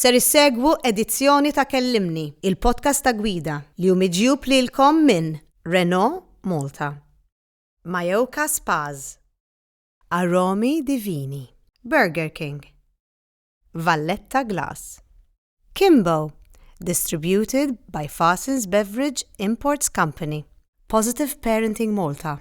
Ser issegwu edizzjoni ta' Kellimni, il-podcast ta' gwida li hu miġjub lilkom minn Renault Malta, Mayoka Spas, Aromi Divini, Burger King, Valletta Glass, Kimbo, distributed by Fassins Beverage Imports Company, Positive Parenting Malta,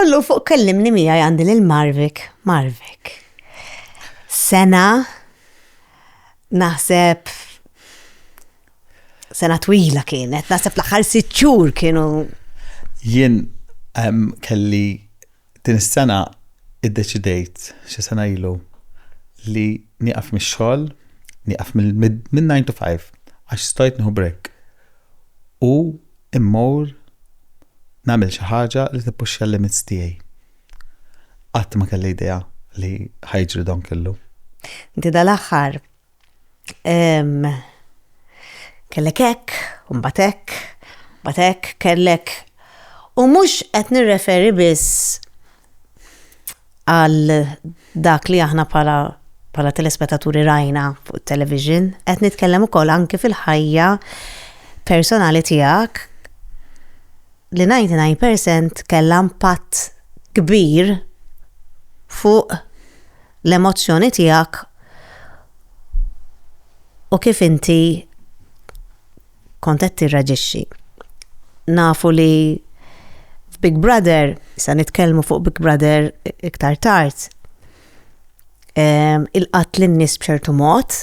Ullu fuq kellimni mija għandi lil Marvik, Marvik. Sena naħseb sena twila kienet, naħseb l-aħħar sitt xhur kienu. Jien kelli din is-sena iddeċidejt xi sena ilu li nieqaf mix-xogħol, nieqaf minn 9 to 5 għax stajt nieħu break. U Immur nagħmel xi ħaġa li tippuxxja l-limits tiegħi. Qatt ma kelli idea li ħa jiġri dan kollu. Inti dal-aħħar kellek hekk, u mbagħad hekk, mbagħad hekk, kellek. U mhux qed nirreferi biss għal dak li aħna bħala bħala telespetaturi rajna fuq television, qed nitkellem ukoll anki fil-ħajja personali tiegħek li 99% kellha impatt kbir fuq l-emozzjoni tiegħek u kif inti kont qed tirraġixxi. Nafu li f'Big Brother, sa nitkellmu fuq Big Brother iktar tard, ehm, il-qatt lin-nies b'ċertu mod,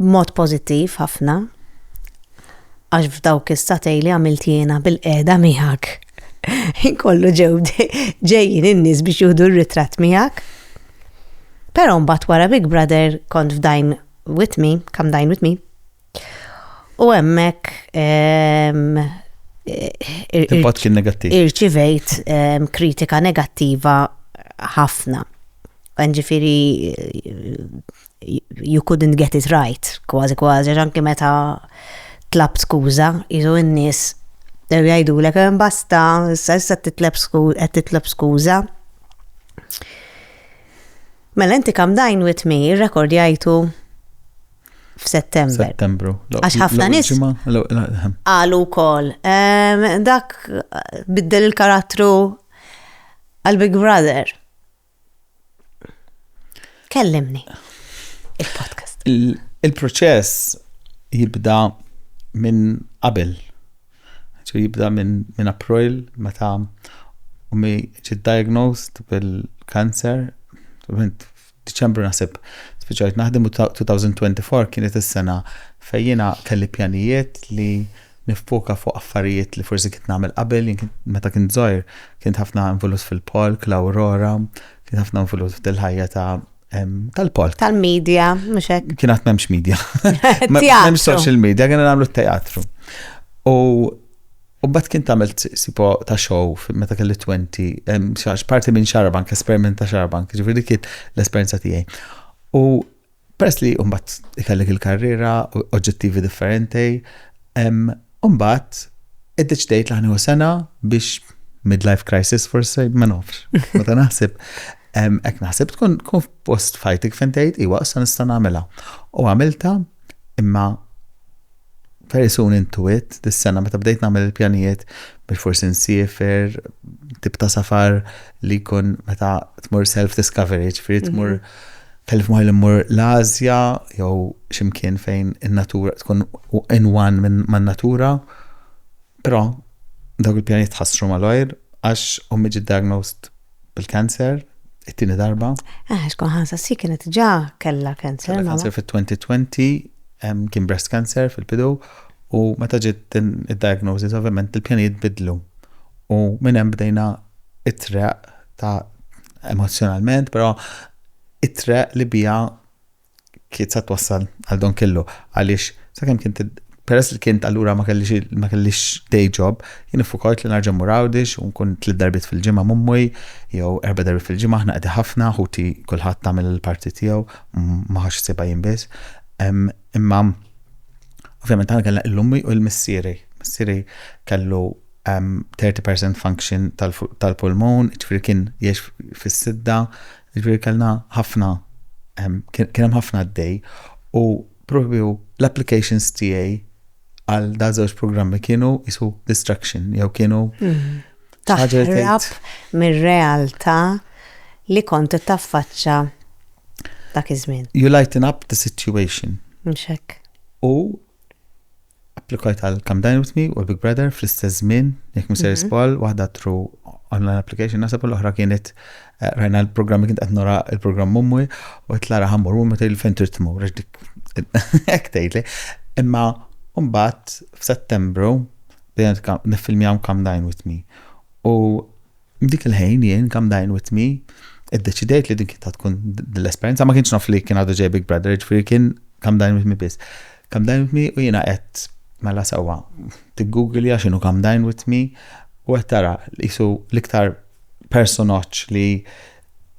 mod pożittiv ħafna, għax f'dawk is-satej li għamilt jiena bil-qeda miegħek. Inkollu ġew ġejjin in-nies biex juhdu r-ritratt miegħek. Però mbagħad wara Big Brother kont f'dajn with me, kam dajn with me, U hemmhekk ehm, Impatt kien negattiv. Irċivejt ehm, kritika negattiva ħafna. Ġifiri, you couldn't get it right, kważi kważi, anki meta tlab skuża, jizu n-nies jgħidu l ehm, basta, issa issa titlab sku- qed titlab skuża. Mela inti kam dajn with me, rekordjajtu f'Settembru. Settembru. Għax ħafna nies qalu wkoll ehm, dak biddel il-karattru għal Big Brother. Kellimni il-podcast. Il-proċess jibda minn qabel. Jibda minn min April meta u mi ġid diagnosed bil-kanser Diċembru naħseb spiċċajt naħdem u 2024 kienet is-sena fejn jiena kelli pjanijiet li niffoka fuq affarijiet li forsi kint nagħmel qabel, jien kint meta kint żgħir kint ħafna involut fil-polk, l-Aurora, kint ħafna involut fil-ħajja ta' em, tal-polk. Tal-media, mhux hekk. Kien għat memx media. Teatru. Memx social media, kien għamlu teatru. U U mbagħad kien tagħmel sipo ta' show meta kelli 20, parti minn xarabank, esperiment ta' xarabank, ġifieri dik kien l-esperjenza tiegħi. U peress li mbagħad ikellek il-karriera, oġġettivi differenti, u mbagħad iddeċidejt li ħanieħu sena biex midlife crisis forsi, ma nafx. Meta naħseb, hekk naħseb tkun post fajtik fejn tgħid iwa issa nista' nagħmilha. U għamilta imma Very soon into it, dis-sena meta bdejt nagħmel il-pjanijiet biex forsi nsiefer, tip ta' safar li jkun meta tmur self-discovery, ġifieri mhm. tmur kellif moħi li mmur l-Azja jew ximkien fejn in-natura tkun in one man-natura. Però, dawk il-pjanijiet tħassru malajr għax ommi ġiet diagnosed bil-cancer it-tieni darba. Ah, xkun ħansa si kienet ġa kella cancer. Kella cancer fit-2020 kien breast cancer fil-bidu u meta ġiet id-diagnosis ovvjament il-pjanijiet bidlu. U minn hemm bdejna it-treq ta' emozjonalment, però it-treq li bija kiet sa twassal għal don kellu għaliex sakemm kien peress li kien allura ma kellix ma kellix day job, jien iffukajt li narġa' mmur Għawdix u nkun tliet darbiet fil-ġimgħa mummuj jew erba' darbiet fil-ġimgħa aħna qegħdi ħafna ħuti kulħadd għamel il-parti tiegħu ma ħax sibha jien biss. Imma ovvjament aħna kellna l-ummi u l-missieri. Missieri kellu 30% function tal-pulmun, ġifieri kien jiex fis-sidda, Jiġifieri kellna ħafna kien hemm ħafna għaddej u propju l-applications tiegħi għal da żewġ programmi kienu jisu distraction jew kienu mm. taħrab mir-realtà li kont taffaċċa dak iż-żmien. You lighten up the situation. Mxek. U Applikajt għal Come Dine With Me u Big Brother fl-istess żmien, jekk miser spall, waħda tru online application nasab l-oħra kienet eh, rajna l-programmi kien qed nora il-programm ummi u qed lara ħammur u meta fejn trid tmur għax dik hekk tgħidli. Imma mbagħad f'Settembru bdejna nifilmjaw Come Dine With Me. U F'dik il-ħin jien come dine with me iddeċidejt li din kien ta' tkun l-esperjenza ma kienx naf li kien għadu ġej Big Brother, ġifieri kien come dine with me biss. Come dine with me u jiena qed mela sewwa tiggugilja x'inhu come dine with me u qed tara qisu l-iktar personaġġ li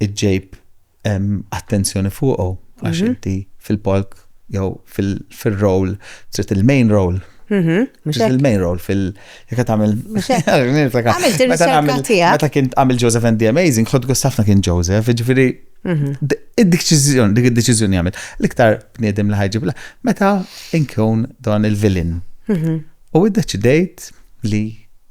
ġġejb hemm attenzjoni fuqu għax mhm. inti fil-palk jew fil-role trid il-main role Mhm. Il-main role fil- jekk tagħmel. Għamilt ir-riċerka tiegħek. Meta kien għamil Joseph and the Amazing, ħod gustafna kien Joseph, ġifieri mhm. id-deċiżjoni, dik id-deċiżjoni għamil. L-iktar bniedem li ħajġib meta inkun dan il-villain. Mhm. U id-deċidejt li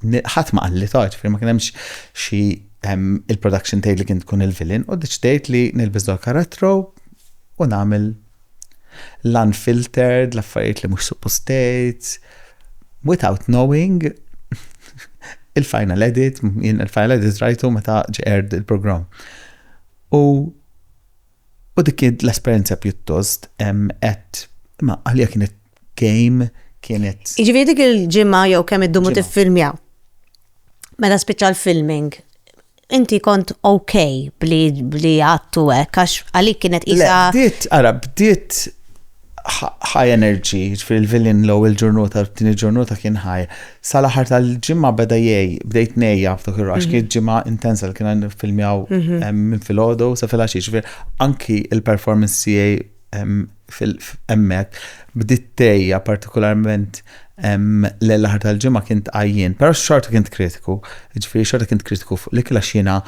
ħadd ma qalli toġ, ma kien hemmx xi il-production tgħid li kien tkun il-villain u deċidejt li nilbes dol karattru u nagħmel l-unfiltered, l-affarijiet li mhux suppostejt, without knowing il-final edit, il-final edit rajtu meta ġeqerd il-programm. U u dik l-esperjenza pjuttost qed ma għalija kienet game kienet. Jiġifieri dik il-ġimgħa jew kemm iddumu tiffilmjaw. Meta spiċċa l-filming, inti kont ok bli għattu hekk għax għalik kienet isa. Bdiet, ara, bdiet high energy, fil-vilin l il ġurnota, tini ġurnota kien high. Sal-aħħar tal-ġimma beda jgħi, bdejt nejja f'dak il-rax, kien ġimma intensa li kien filmjaw mhm. minn fil-ħodu, sa fil-ħaxi, anki il-performance jgħi hemmhekk bdiet tgħejja partikolarment lejl l-aħħar tal-ġimgħa kien tqajjien, però xorta kien kritiku, ġifieri xorta kien kritiku fuq l-ikel għax jiena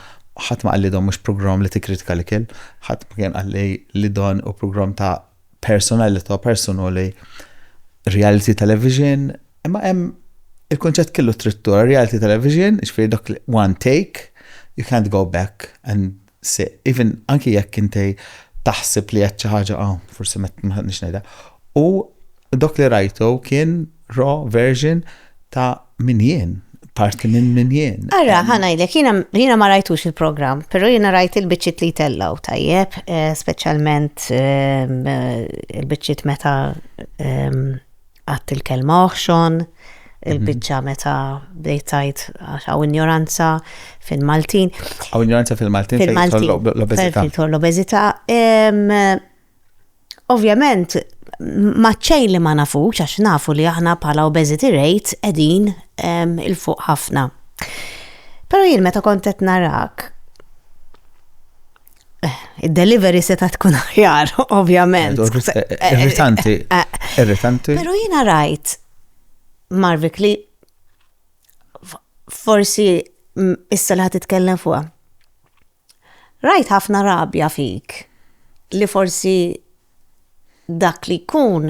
ħadd ma qalli don mhux programm li tikkritika l-ikel, ħadd ma kien qalli li don hu programm ta' personalità personali reality television, imma hemm il-kunċett kellu trid tura reality television, ġifieri dak one take, you can't go back and se even anki jekk inti taħseb li qed xi ħaġa ah, forsi ma ħadniex ngħidha. U dok li rajtu kien raw version ta' min jien, parti minn min jien. Ara, ħanajlek, jiena ma rajtux il-programm, però jiena rajt il-biċċiet li tellaw tajjeb, eh, speċjalment eh, il-biċċiet meta eh, Għadt il-kelma oħxon, il-biċċa meta bdejt tgħid għax hawn injoranza fil-Maltin. Hawn injoranza fil-Maltin fil-Maltin l-obeżità. L-obeżità. Ovvjament, maċċejn li ma nafux, għax nafu li aħna bħala obesity rate edin il-fuq ħafna. Pero jien meta kontet narak, Id-delivery seta tkun aħjar, ovvjament. Irritanti. Irritanti. Pero jina rajt, Marvik, li forsi issa li ħatitkellem fuqa. Rajt ħafna rabja fik li forsi dak li jkun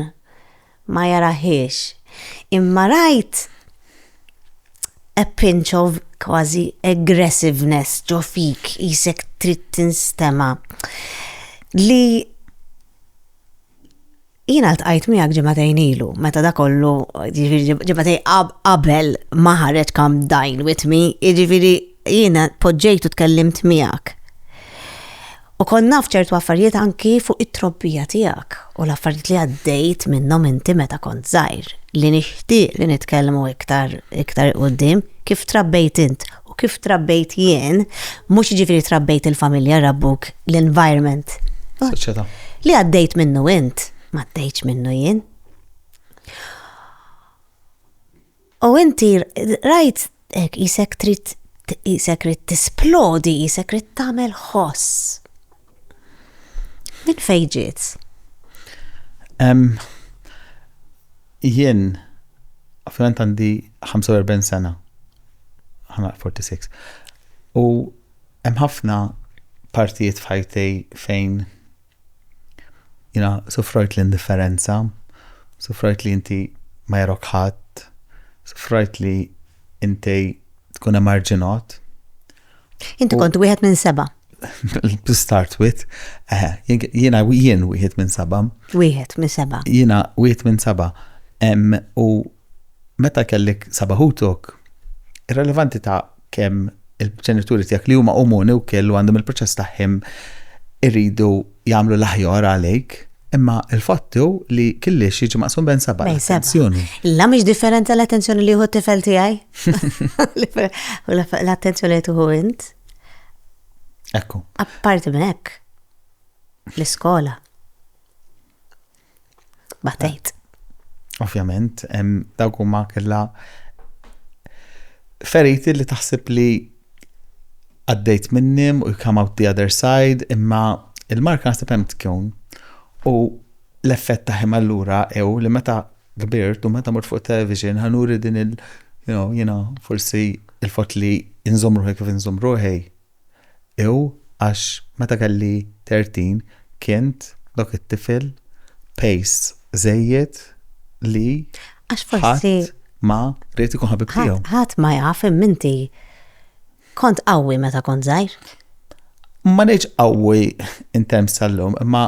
ma jarahiex, imma rajt a pinch of kważi aggressiveness ġo fik, qisek trid tinstema', li jiena ltqajt miegħek ġimagħtejn ilu meta dak kollu, jiġifieri ġimagħtejn qabel ma ħareġ Come Dine With Me, jiġifieri, Jiena poġġejt u tkellimt miegħek. U kont naf ċertu affarijiet anki fuq it-trobbija tiegħek u l-affarijiet li għaddejt minnhom inti meta kont żgħir li nixtieq li nitkellmu iktar iktar quddiem kif trabbejt int u kif trabbejt jien, mhux jiġifieri trabbejt il-familja, rabbuk, l-environment. Soċjetà. Li għaddejt minnu int, ma għaddejtx minnu jien. U inti rajt hekk qisek trid qisek trid tisplodi, qisek trid tagħmel ħoss. Min fejn ġiet? Jien, ovvjament għandi 45 sena, ħana 46. U hemm ħafna partijiet f'ħajtej fejn Jiena sufrajt l-indifferenza, sufrajt li inti ma jarok ħadd, sufrajt li inti tkun emarġinot. Inti kont wieħed minn seba. Start with, eh, jiena jien wieħed minn seba. Wieħed minn seba. Jiena wieħed minn seba. U Meta kellek seba' ħutok, irrelevanti ta' kemm il-ġenituri tiegħek li huma umuni wkiel u għandhom il-proċess tagħhim iridu jagħmlu l-aħjar għalejk, imma l-fatt hu li killiex jiġi maqsum bejn seba' l-attenzjoni. La mhix differenti l-attenzjoni li jieħu t-tifel tiegħi? U l-attenzjoni li tuħu int? Ekku. Apparti minn hekk, l-iskola. Batejt. Ovvjament, dawk huma kellha feriti li taħseb li għaddejt minnim u come out the other side, imma il-marka naħseb hemm tkun. U l-effett ta' ħim allura ew li meta kbirt u meta mort fuq television ħanuri din il- you know, jina forsi il-fot li nżomruħi kif nżomruħi. Ew għax meta kelli 30 kint dak it-tifel pejs żejjed li ħadd ma ried ikun ħabib tiegħu. Ħadd ma jaf imma inti kont qawwi meta kont żgħir. Ma ngħidx qawwi in terms tal-lum imma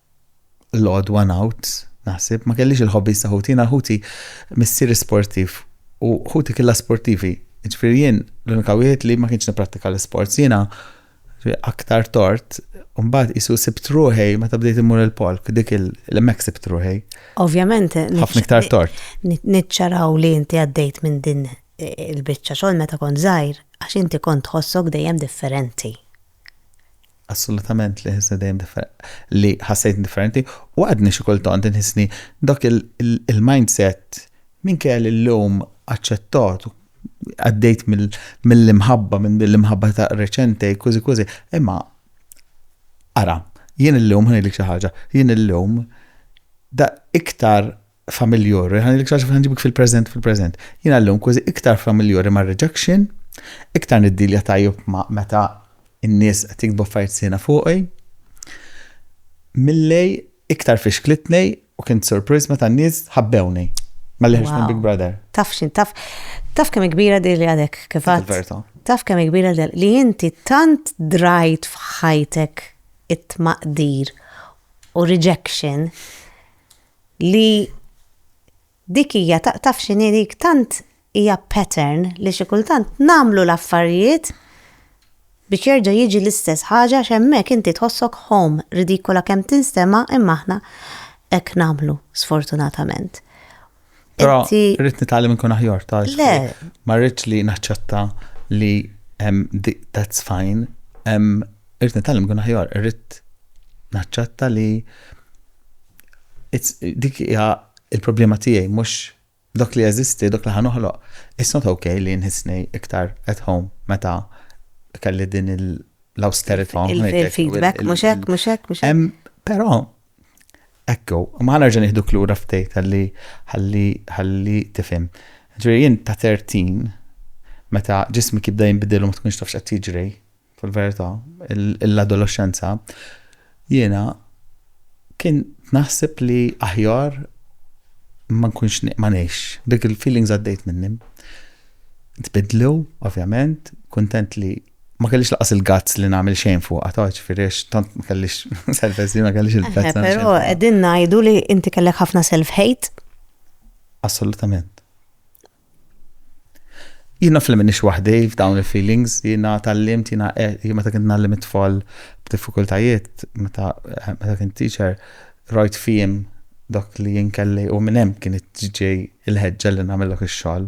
l-għodwa ngħud, naħseb, ma kellix il-hobbies ta' ħuti, jiena ħuti missieri sportiv u ħuti killa sportivi. Ġifieri jien l-unika wieħed li ma kienx nipprattika l-isports. Jiena aktar tort, mbagħad isu sibt ruħi meta bdejt immur il-polk, dik il-mek sibt ruħi. Ovvjament, ħafna iktar tort. Niċċaraw li inti għaddejt minn din il-biċċa xogħol meta kont żgħir għax inti kont ħossok dejjem differenti. Assolutament li ħissni dejjem differenti, li ħassejtni differenti u għadni xi kultant inħissni dak il-mindset minkejja li llum aċċettat u għaddejt mill-imħabba, minn din l-imħabba ta' reċenti, kużi kużi, imma ara, jien illum ħanejlek xi ħaġa, jien illum da iktar familjori, ħan il-iktar xafet ħanġibik fil-prezent fil-prezent. Jien għallum kważi iktar familjori ma' rejection, iktar niddilja tajjeb ma' meta n-nies qed jiktbu affarijiet sena fuqi. Millej iktar fiex klitnej u kien surpriz meta n-nies ħabbewni. Ma liħx minn Big Brother. Taf xin, taf, taf kemm kbira di li għadek, kif Taf kemm kbira li inti tant drajt f'ħajtek it-tmaqdir u rejection li dik hija taf x'inhi dik tant hija pattern li xi kultant nagħmlu l-affarijiet biex jerġa' jiġi l-istess ħaġa għax hemmhekk inti tħossok home, ridikola kemm tinstema' imma aħna hekk nagħmlu sfortunatament. Però rrid nitgħallem nkun aħjar ta' Le. Ma rridx li naċċetta li that's fine. Rrid nitgħallem nkun aħjar, rrid naċċetta li dik hija il-problema tiegħi mhux dak li jeżisti, dak li ħanoħloq. It's not okay li nħissni iktar at home meta kelli din l-austerity. Il-feedback, mhux hekk, mhux hekk, mhux hekk. Però Ekku, imma ħa nerġa' nieħduk lura ftit ħalli ħalli ħalli tifhem. Ġifieri jien ta' 13 meta ġismik jibda jinbidel u ma tkunx taf x'qed jiġri fil-verità, l-adolexxenza, jiena kien naħseb li aħjar ma nkunx ma ngħix. Dik il-feelings għaddejt minnhom. Tbiddlu, ovvjament, kuntent li ma kellix laqas il-gazz li nagħmel xejn fuq ta' ġifieri tant ma kellix self esteem ma kellix il-gazz. Però qegħdin ngħidu li inti kellek ħafna self hate. Assolutament. Jina fl minix waħdi f'dawn il-feelings, jina tal-limt, jina eh, meta kint nallim it-tfal b'diffikultajiet, meta eh, kint teacher, rajt fihim dak li jinkelli u minnem kien ġej il-ħedġa li namillok il-xol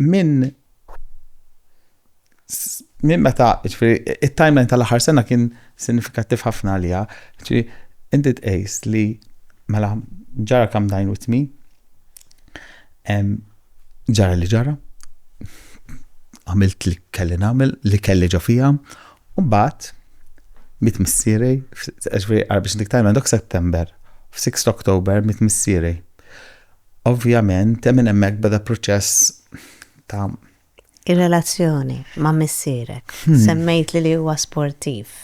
minn minn meta, ġifiri, il-timeline tal-aħħar sena kien sinifikattiv ħafna għalija. Ġifiri, inti tqejs li mela ġara kam dajn with me, ġara li ġara, għamilt li kelli namel, li kelli ġo fija, u bat, mit missiri, ġifiri, għarbiex dik timeline, dok September, f-6 Oktober, mit missiri. Ovvjament, minn hemmhekk beda proċess ta'. Ir-relazzjoni ma' missierek. Semmejtli li huwa sportiv.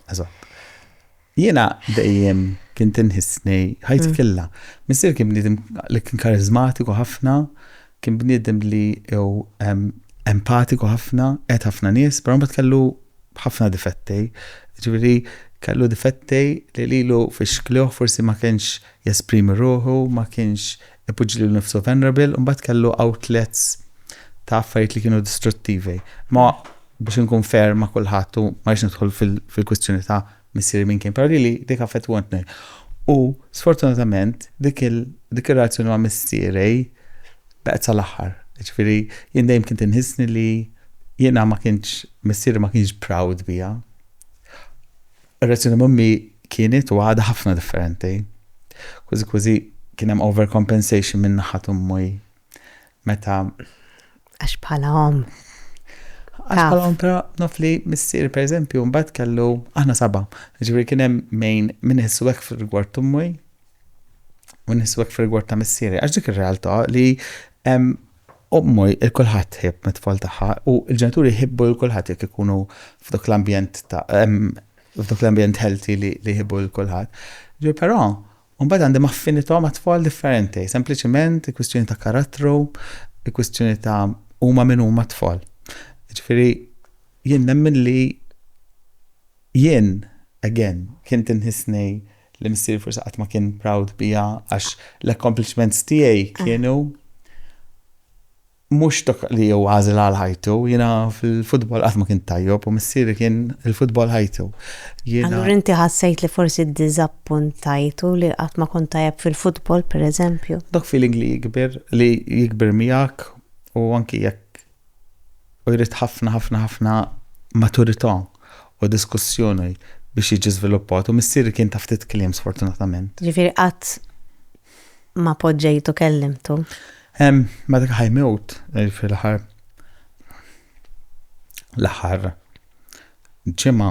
Eżatt. Jiena dejjem kien tinħissni ħajti mm. killa. Missier kien bniedem li kien karizmatiku ħafna, kien bniedem li jew empatiku ħafna, qed ħafna nies, però mbagħad kellu ħafna difetti. Ġifieri kellu difetti li lilu fix-xklioħ forsi ma kienx jesprimi ruħu, ma kienx ipoġġi lilu nnifsu vulnerable, u mbagħad kellu outlets ta' affarijiet li kienu distruttivi. Ma biex inkun fair ma' kulħadd u ma rridx nidħol fil-kwistjoni ta' missieri minn kien, però lili dik affettwantni. U sfortunatament dik ir-relazzjoni ma' missieri baqgħet sal-aħħar. Jiġifieri jien dejjem kont inħissni li jiena ma kienx, missieri ma kienx proud bija. Ir-reazzjoni m'ommi kienet u għadha ħafna differenti. Kważi kważi kien hemm overcompensation minn naħat ummi meta. Għax bħala om. Għax bħala om, pero naf li missier, per eżempju, mbagħad kellu aħna saba. Ġifieri kien hemm mejn minn iħissu hekk fil-rigward ummi u nħissu hekk fil-rigward ta' missieri. Għax dik ir-realtà li Omm lil kulħadd tħobb lit-tfal tagħha u l-ġenituri jħibbu lil kulħadd jekk ikunu f'dak l-ambjent ta' f'dak l-ambjent healthy li li jħibbu lil kulħadd. Ġifieri però mbagħad għandhom affinità ma' tfal differenti, sempliċiment kwistjoni ta' karattru, kwistjoni ta' huma min huma t-tfal. Ġifieri jien nemmen li jien again kien tinħissni li missieri forsi qatt ma kien proud biha għax l-accomplishments tiegħi kienu mhux dak li jew għażel għal ħajtu, jiena fil-futbol qatt ma kien tajjob u missieri kien il-futbol ħajtu. Allura inti ħassejt li forsi ddiżappuntajtu li qatt ma kont tajjeb fil-futbol pereżempju? Dak feeling li jikber li jikber miegħek u anki jekk u jrid ħafna ħafna ħafna maturità u diskussjoni biex jiġi żviluppat u missieri kien ta' ftit kliem sfortunatament. Ġifieri qatt ma poġġejtu kellimtu? Ma dak ħajmewt fil-aħħar l-aħħar ġimgħa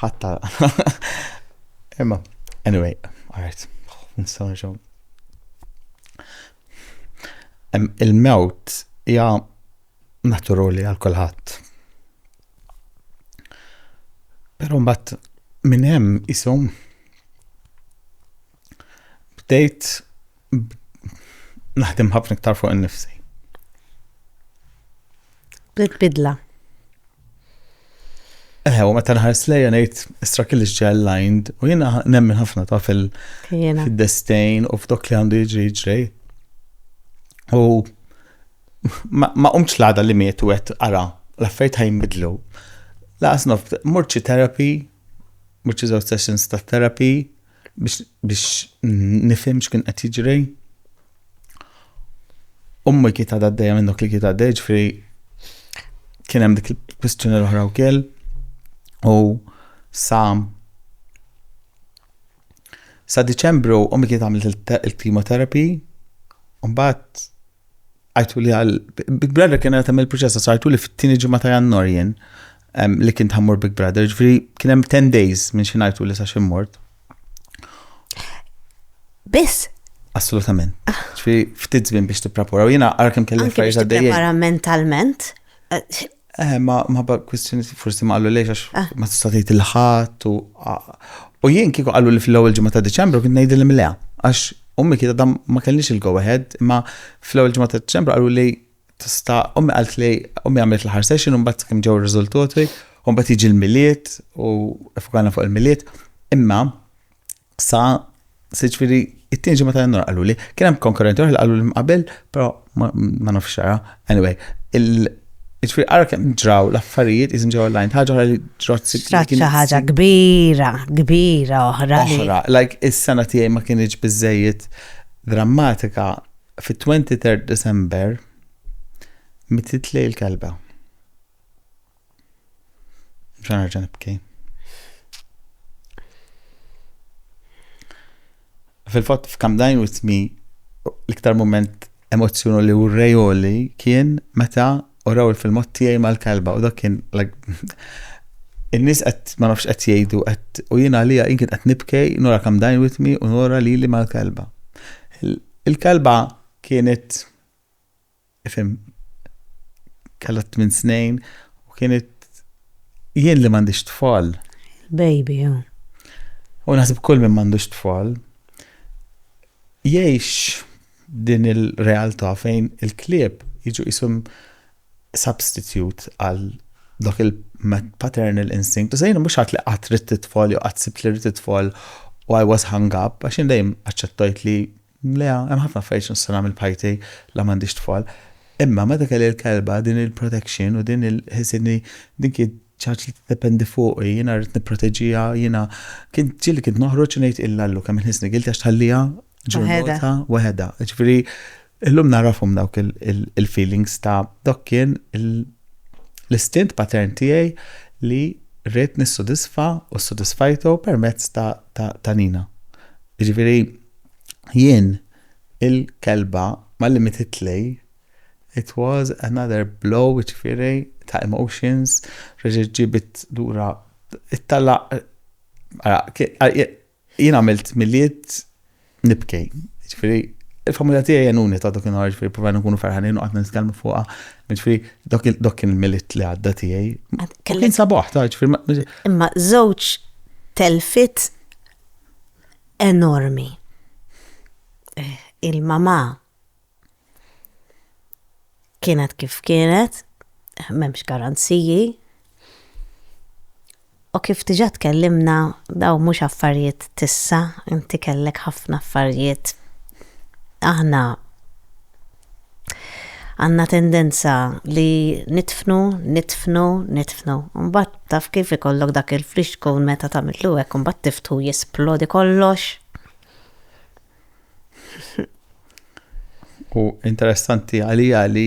Ħatta. Imma, anyway, għart, nistaw nġaw. Il-mewt hija naturali għal kulħadd. Però mbagħad minn hemm isom bdejt naħdem ħafna iktar fuq innifsi. Bdiet bidla. Eh, u meta nħares lejja ngħid istra kelli ġġel lined u jiena nemmen ħafna ta' fil-destejn u f'dok li għandu jiġri jiġri. U ma qumx l-għada li miet u għet ara, l-affarijiet ħajn bidlu. Laqas nof, murċi terapi, murċi żewġ sessions ta' terapi, biex nifhem x'kien qed jiġri. Ummi kiet għadha d minn dak li kiet għaddej ġifri kien hemm dik il-kwistjoni l-oħra wkoll u sa sa Diċembru ummi kiet għamlet il-chemotherapy u mbagħad għajtu li għal Big Brother kien għatem il-proċess għajtu li fit-tini ġimma ta' jannar jien li kien tħammur Big Brother, ġifri kien hemm 10 days minn xi ngħidu li sa xi mort. Biss? Assolutament. Ah. Ġifri ftit żmien biex tipprapora u jiena għal kemm kelli affarijiet għaddejjin. Prepara mentalment. Eh, Eh, ma ma ba kwistjoni forsi ma qallu lejx għax ah. ma tista' tgħid il-ħadd u u jien kieku qallu li fl-ewwel ġimgħa ta' Diċembru kien ngħidil imleha għax ummi kienet dam ma kellix il-go ahead imma fl-ewwel ġimgħa ta' Diċembru qallu li tista' ummi qalt li ummi għamilt l-ħar session u mbagħad kemm ġew ir-riżultati u mbagħad jiġi l-miliet u fukana fuq il-miliet imma Sa, siġifieri it-tieni ġimgħa ta' Jannar qaluli. Kien hemm konkurrenti oħra li qalu li qabel, però ma nafx xara. Anyway, Ġifiri, għara kem ġraw l-affarijiet jizim ġew online, ħagħa ħra li ġrot s Ġrat ħaġa kbira, kbira oħra. Oħra, like is-sena tiegħi ma kienieġ bizzejiet drammatika fi 23 December mititlej il-kelba. Ġan nerġa' nibki. Fil-fatt f'kam dajn u tmi l-iktar moment emozzjonu li urrejoli kien meta uraw il-filmot tiegħi mal-kalba u dak kien in-nies qed ma nafx qed jgħidu qed u jien għalija jien kien qed nibkej nora kam dajn u tmi u nora lili mal-kalba. Il-kalba kienet Ifhem, kellha tmien snin u kienet jien li m'għandix tfal. Baby, oh. U naħseb kull min m'għandux tfal jgħix din il-realtà fejn il-klieb jiġu jisum substitute għal dak il-paternal instinct. U sejn mhux għat li qatt rid titfal jew qatt sibt li rid titfal u I was hung up għax jien dejjem aċċettajt li Le, hemm ħafna affarijiet x'nista' nagħmel b'ħajti la m'għandix tfal. Imma meta kelli l-kelba, din il-protection u din il ħsibt li din kienet xi ħaġa li tiddependi fuqi, jiena rrid nipproteġiha, jiena kien ġieli kien noħroġ u ngħid illa Allu kemm inħissni guilty għax tħalliha ġurnata waħedha. Jiġifieri illum nagħrafhom dawk il-feelings ta' dak kien l-istint patern tiegħi li rrid nissodisfa u ssodisfajtu permezz ta' Nina. Jiġifieri Jien il-kelba ma limititli, it was another blow jiġifieri ta' emotions, reġgħet ġiebet lura it-tala' ara jien għamilt Milied nibki, jiġifieri il-familja tiegħi għenuni ta' dak in-nhar jiġifieri provajna nkunu ferħanin u qgħadna nitkellmu fuqha, jiġifieri dak kien il-Milied li għadda tiegħi. Kien sabaħ ta' jiġifieri. Imma żewġ telfiet enormi. Il-mamà kienet kif kienet, m'hemmx garanziji, U kif diġà tkellimna daw mhux affarijiet tissa, inti kellek ħafna affarijiet. Aħna Għandna tendenza li nidfnu, nidfnu, nidfnu. U mbagħad taf kif ikollok dak il-flixkun meta tagħmillu hekk u mbagħad tiftħu jisplodi kollox. U interessanti għalija li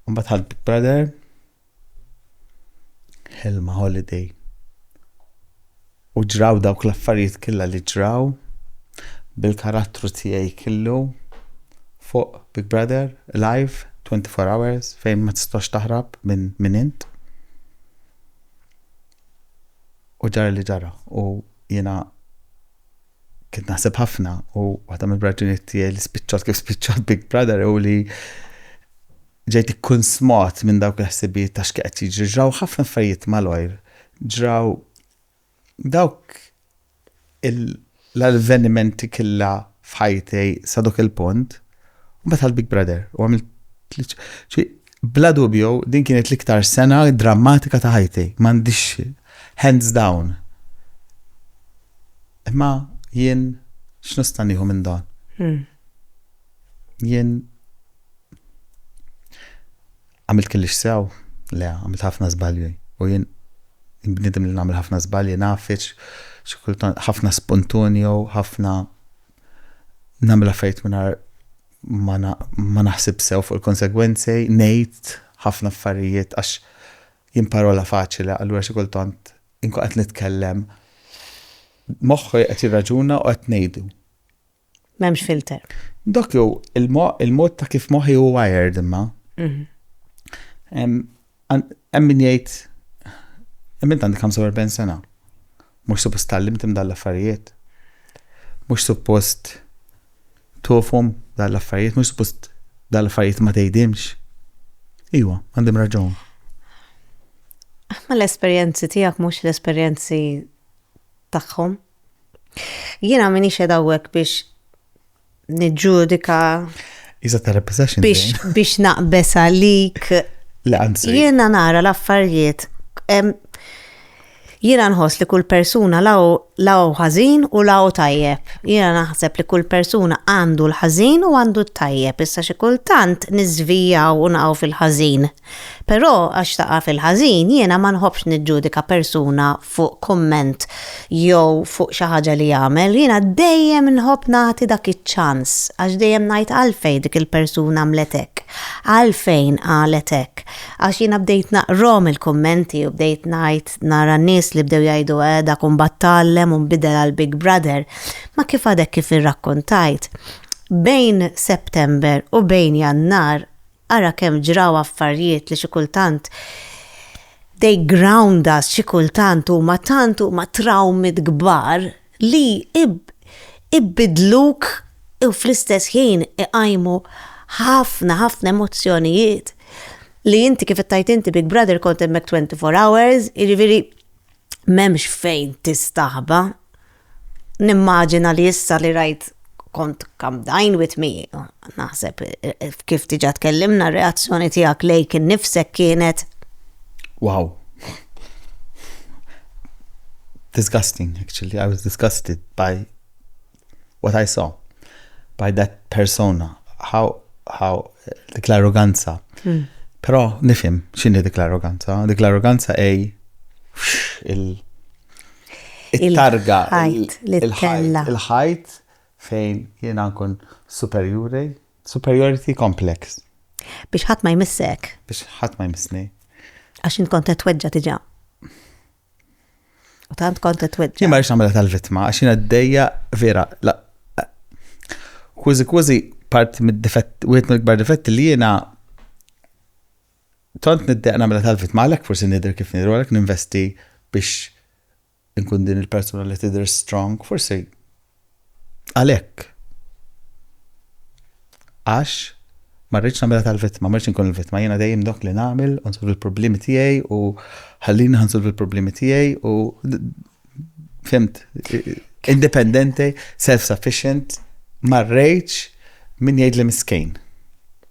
mbagħad ħadd Big Brother Helma Holiday. U ġraw dawk l-affarijiet killa li ġraw bil-karattru tiegħi killu fuq Big Brother, live, 24 hours, fejn ma tistax taħrab minn min int. U ġara li ġara. U jena kien naħseb ħafna u waħda mill-raġunijiet tiegħi li spiċċat kif spiċċat Big Brother u li ġejt ikkun smot minn dawk il-ħsibijiet ta' x'qed jiġri ġraw ħafna affarijiet malajr. Ġraw dawk l-avvenimenti killa f'ħajtej sa dok il-punt u meta l-Big Brother u għamilt Bla dubju din kienet l-iktar sena drammatika ta' ħajti, m'għandix hands down. Imma jien x'nista' nieħu minn dan? Jien għamilt kellix sew, le għamilt ħafna żbalji u jien bniedem li nagħmel ħafna żbalji naf ħafna spuntunju, ħafna nagħmel affarijiet mingħajr ma naħsib sew fuq il-konsegwenzi, ngħid ħafna affarijiet għax jien parola faċli, allura xi kultant inkun qed nitkellem moħħi qed jirraġuna u qed ngħidu. M'hemmx filter. Dok jew il-mod ta' kif moħħi hu wired imma. Mhm. Hemm min jgħid, imma int għandek 45 sena, mhux suppost tgħallimthom dan l-affarijiet? Mhux suppost tofhom dan l-affarijiet, mhux suppost dan l-affarijiet ma tgħidimx? Iwa, għandim raġun. Ma l-esperjenzi tiegħek mhux l-esperjenzi tagħhom. Jiena minix edawwek biex niġġudika. Iżda ta' repossession. Biex naqbes għalik. Le, anzi. Jiena nara l-affarijiet. Jiena nħoss li kull persuna law ħażin u law tajjeb. Jiena naħseb li kull persuna għandu l-ħażin u għandu t-tajjeb. Issa xi kultant niżvijaw u naqgħu fil-ħażin. Però għax taqa' fil-ħażin, jiena ma nħobbx niġġudika persuna fuq kumment jew fuq xi ħaġa li jagħmel, jiena dejjem nħobb nagħti dak iċ-ċans għax dejjem ngħid għalfejn dik il-persuna għamlet hekk, għalfejn qalet hekk. Għax jiena bdejt naqrahom il-kummenti u bdejt ngħid nara nies li bdew jgħidu eh dak imbagħad tgħallem u nbidel għal Big Brother. Ma kif għadek kif irrakkuntajt, bejn September u bejn Jannar Ara kemm ġraw affarjiet li xi kultant they ground us, xi kultant huma tant huma trawmit kbar li ibidluk u fl-istess ħin iqajmu ħafna ħafna emozzjonijiet li inti kif ittajt inti Big Brother kont hemmhekk 24 hours, jiġifieri m'hemmx fejn tistaħba. Nimmaġina li issa li rajt kont kamdajn with me, naħseb kif diġa tkellimna reazzjoni tiegħek lejk innifsek kienet. Wow. Disgusting, actually. I was disgusted by what I saw, by that persona. How, how, dik l-arroganza. Hmm. Però nifhem x'inhi dik l-arroganza. Dik l-arroganza ej il-targa il-ħajt fejn jiena nkun superjuri, superiority complex. Biex ħadd ma jmissek. Biex ħadd ma jmissni. Għax int kont qed tweġġa' diġà. U tant kont qed tweġġa. Jien ma rridx nagħmel tal-vittma għax jiena dejja vera kważi kważi part mid-difett wieħed mill-ikbar difetti li jiena tant niddeq nagħmel tal-vittma għalhekk forsi nidher kif nidher għalhekk ninvesti biex inkun din il-persuna li tidher strong, forsi Għalhekk. Għax ma rridx nagħmilha tal-vittma, ma rridx inkun il-vittma, jiena dejjem dok li nagħmel u nsolvi l-problemi tiegħi u ħallini ħansolvi l-problemi tiegħi u fimt independenti, self-sufficient, ma rridx min jgħidli miskejn.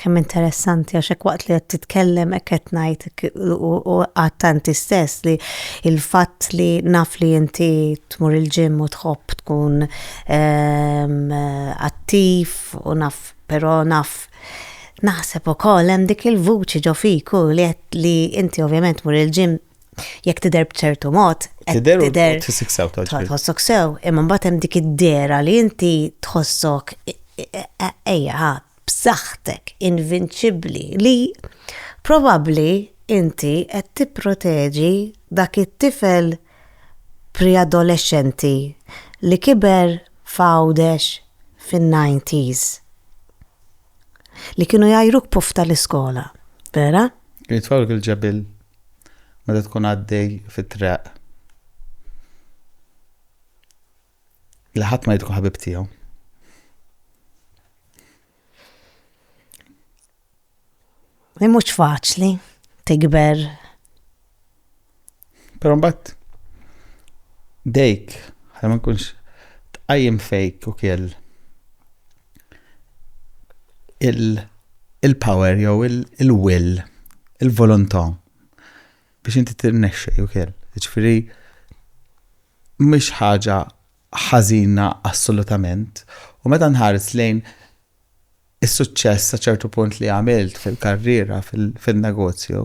Kemm interessanti għax hekk waqt li qed titkellem hekk qed ngħid u għattanti stess li il-fatt li naf li inti tmur il-ġim u tħobb tkun ehm, attiv u naf però naf naħseb ukoll hemm dik il-vuċi ġo fiku li li inti ovvjament mur il-ġim Jekk tidher b'ċertu mod, tidher tidher tħossok sew tħossok sew, imma mbagħad hemm dik id-dera li inti tħossok e- e- e- ejja b'saħħtek invinċibbli li probabbli inti qed tipproteġi dak it-tifel preadolescenti li kiber fawdex fin-90s li kienu jajruk puf tal-iskola, vera? Jitfawlek il-ġebil meta tkun għaddej fit-traq li ħadd ma jidħu ħabib tiegħu. Li mhux faċli tikber. Però mbagħad dejk, ħalli ma nkunx tqajjem fejk u kell. il-power jew il-will, il-volontà biex inti tirnexxi jew kell. Ġifieri mhix ħaġa ħażina assolutament. U meta nħares lejn is-suċċess sa ċertu punt li għamilt fil-karriera, fil-negozju,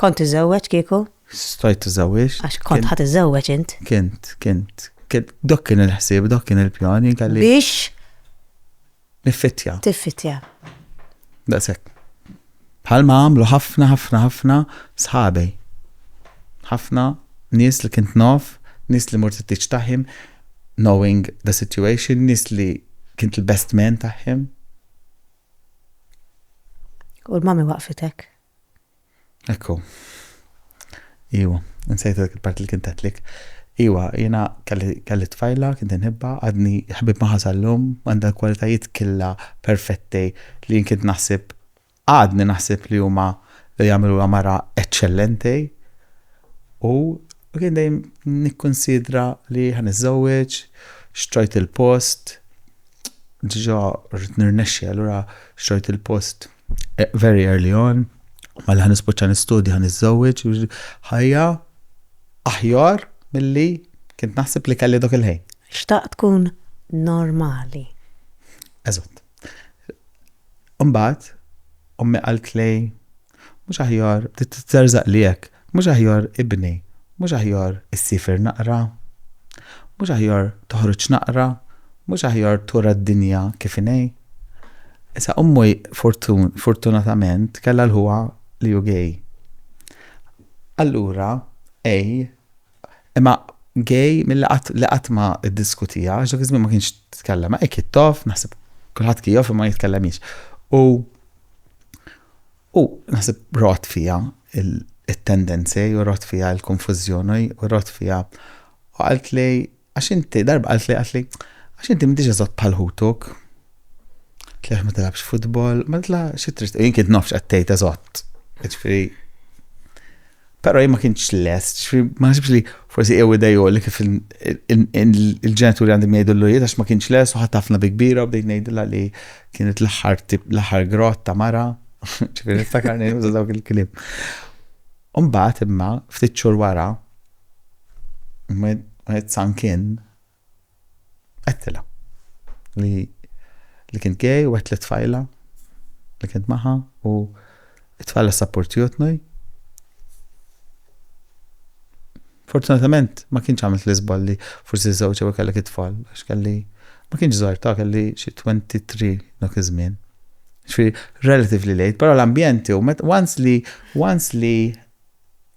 Kont tiżżewweġ kieku? Stajt tiżżewweġt. Għax kont ħa tiżżewweġ int. Kint, kint. Dak kien il-ħsieb, dak kien il-pjan jien kelli. Biex? Niffittja. Tiffittja. Daqshekk. Bħalma għamlu ħafna ħafna ħafna sħabej. Ħafna nies li kint naf, nies li mort it-tiġ taħim, knowing the situation, nies li kint l-best man taħħim. U l-mami waqfitek? Ekku. Iwa, nsejt dak il-parti li kien tgħidlek. Iwa, jiena kelli tfajla, kien inħibba, għadni ħbib magħha sal-lum, għandha l-kwalitajiet killa perfetti li jien kien naħseb, għadni naħseb li huma li jagħmluha mara eċċellenti. U kien dejjem nikkunsidra li ħa niżżewweġ, xtrajt il-post, diġa rrid nirnexxi allura xtrajt il-post. very early on, mela ħan nispoċċa nistudja, ħan niżżewweġ, ħajja aħjar milli kint naħseb li kelli dok il-ħin. Xtaq tkun normali. Eżatt. Umbat, ummi għalt li mhux aħjar titterzaq li hekk, mhux aħjar ibni, mhux aħjar issifir naqra, mhux aħjar toħroġ naqra, mhux aħjar tura d-dinja kif inhi. Issa ommu fortunatament kellha l-ħuha li hu gay. Allura A imma gay milli qatt li qatt ma ddiskutija għax dak iż-żmien ma kienx tkellem hekk jittof naħseb kulħadd kien jof imma jitkellemx. U u naħseb rot fija it-tendenzi u rot fija l-konfużjoni u rot fija u qalt li Għax inti, darba qaltli, qaltli, għax inti m'intix eżatt bħal ħutuk. Tli għax ma tilgħabx futbol, ma tla xi trid. Jien kien nafx qed tgħid eżatt. Ġifieri. Però jien ma kienx lest, ġifieri ma ħsibx li forsi jew idejju li kif il-ġenituri għandhom jgħidu l għax ma kienx lest u ħadd ħafna bi kbira u bdejt ngħidilha li kienet l-aħħar l-aħħar grott ta' mara. Ġifieri niftakar ngħidu dawk il-kliem. U mbagħad imma, ftit xhur wara, when it sunk in, għedtilha li li kint gay u għedt lit-tfajla li kint magħha u t-tfajla ssapportjutni. Fortunatament ma kienx għamilt l-iżball li forsi żżewġ jew ikellek it-tfal għax kelli, ma kienx żgħir ta' kelli xi 23 dak iż-żmien. Ġifieri relatively late, però l-ambjent hu met once li once li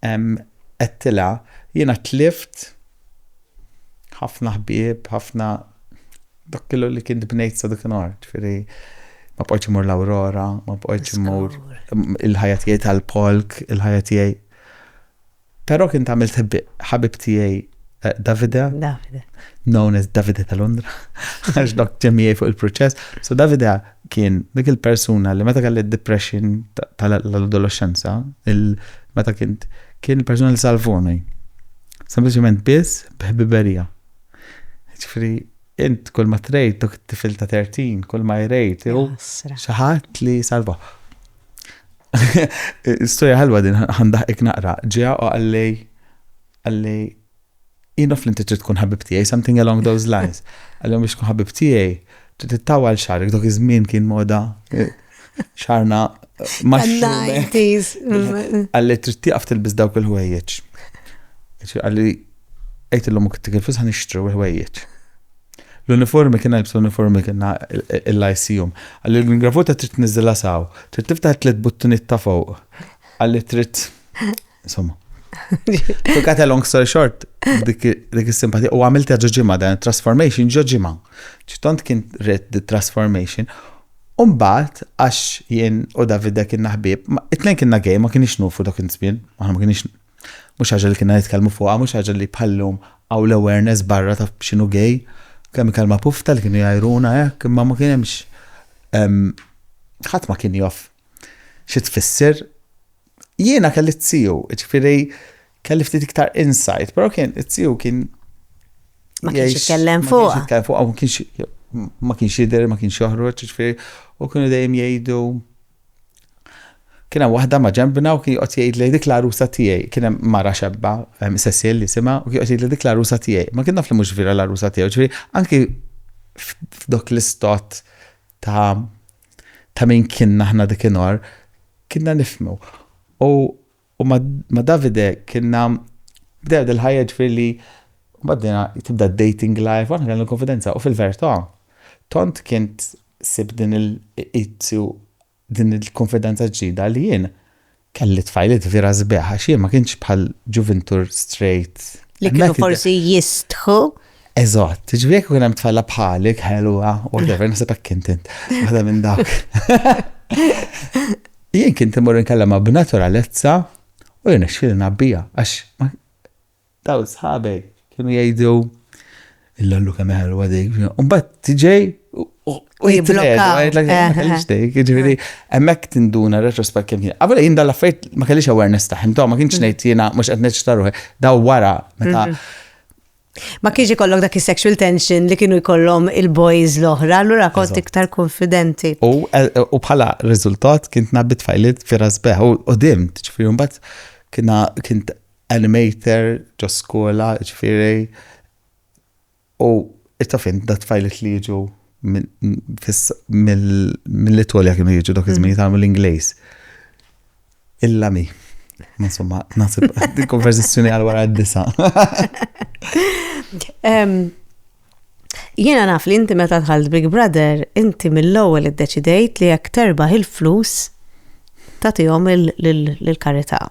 għedtilha jiena tlift ħafna ħbieb, ħafna dak kollu li kien bnejt sa dakinhar. Ġifieri ma bqajtx imur l-Aurora, ma bqajtx imur il-ħajja tiegħi tal-polk, il-ħajja tiegħi Però kien tagħmilt ħabib tiegħi Davide. Davide. Known as Davide ta' Londra. Għax dok ġemijaj fuq il-proċess. So Davide kien dik il-persuna li meta kelli depression tal-adolescenza, meta kien kien il-persuna li salvoni. Sempliċement biss bħbiberija. Ġifri, int kull ma trejt dok tifil ta' 13, kull ma jrejt, xaħat li salva. Stoja ħalwa din ħandaħqek naqra. Ġeja u għallej għallej jien li inti trid tkun ħabib tiegħi something along those lines. Għallhom biex tkun ħabib tiegħi trid ittawal xarek dok iż-żmien kien moda eh, xarna eh, max-90s. Għalli trid tieqaf tilbis dawk il-ħwejjeġ. Għalli għajt l-lum kittik il-flus ħan ixtru il-ħwejjeġ. L-uniformi kien għalbsa l-uniformi kien il-lajsijum. Għalli l-ingravuta trid niżilha saw. Trid tiftaħ tliet buttuniet ta' fuq. Għalli trid. Insomma. To cut a long story short, dik is-simpatija, u għamilt ġo ġimma dan transformation ġo ġimma. ċitont kien red the transformation. Umbat, għax jien u Davide kien naħbib, it-tnejn kienna gej, ma kienix nufu dak il-żmien, ma kienix Mhux ħaġa li kienna nitkellmu fuqha, mhux ħaġa li bħal-lum hawn l-awareness barra ta' x'inhu gay. Kemm il-kelma pufta li kienu jgħajruna hekk, imma ma kien hemmx ehm, ħadd ma kien jof xi tfisser. Jiena kelli t-tiju, ġifieri kelli ftit iktar insight, però kien it-tiju kien Ma kienx jgħix- jitkellem ma kienx fuqha. jitkellem fuqha, ma kienx ma kienx jidher, ma kienx joħroġ, ġifieri u kienu dejjem jgħidu Kien hemm waħda ma' ġembna u kien joqgħod jgħidli dik l-għarusa tiegħi, kien hemm mara xebba, Cecil jisimha, u kien joqgħod jgħidli dik l-għarusa tiegħi. Ma kien naf li mhux vera l-għarusa tiegħu, ġifieri anki f'dok l-istot ta' ta' min kienna aħna dik inhar, kienna nifhmu. U U ma, ma Davide kienna bdew dil-ħajja ġifieri li baddina tibda dating life, aħna kellna l-konfidenza u fil-verità tant kien sib din il din il-konfidenza ġdida li jien kelli tfajliet vera sbieħ għax jien ma kienx bħal ġuvintur straight. Li kienu forsi jistħu Eżatt, ġifieri jekk ikun hemm tfalla bħalik, ħelwa, whatever, naħseb hekk kien int. Waħda minn dawk. Jien kien timur inkellema b'naturalezza u jien xfil nabbija għax daw sħabej kienu jgħidu il-lallu kemm ħelwa dik. Mbagħad tiġej u jiblokka. Ġifieri hemmhekk tinduna retrospekt kemm kien. Qabel jien dal-affarijiet ma kellix awareness tagħhom, ma kienx mm. ngħid jiena mhux qed neċtaruħ, daw wara meta mm-hmm. Ma kienx ikollok dak is-sexual tension li kienu jkollhom il-boys l-oħra, allura kont iktar konfidenti. Eh, u bħala riżultat kien nabbi tfajlit fi rasbeħ u dim, ġifieri mbagħad kiena kien animator ġo skola, ġifieri u it-tafin da tfajlit li jiġu mill-Itolja kienu jiġu dak iż-żmien mm. jitgħalmu l-Ingliż. Illa mi. Ma somma, nasib, konversazzjoni għal wara d-disa. Jiena naf li inti meta tħalt Big Brother, inti mill-ewwel iddeċidejt li jekk terbaħ il-flus tagħtihom lill-karità.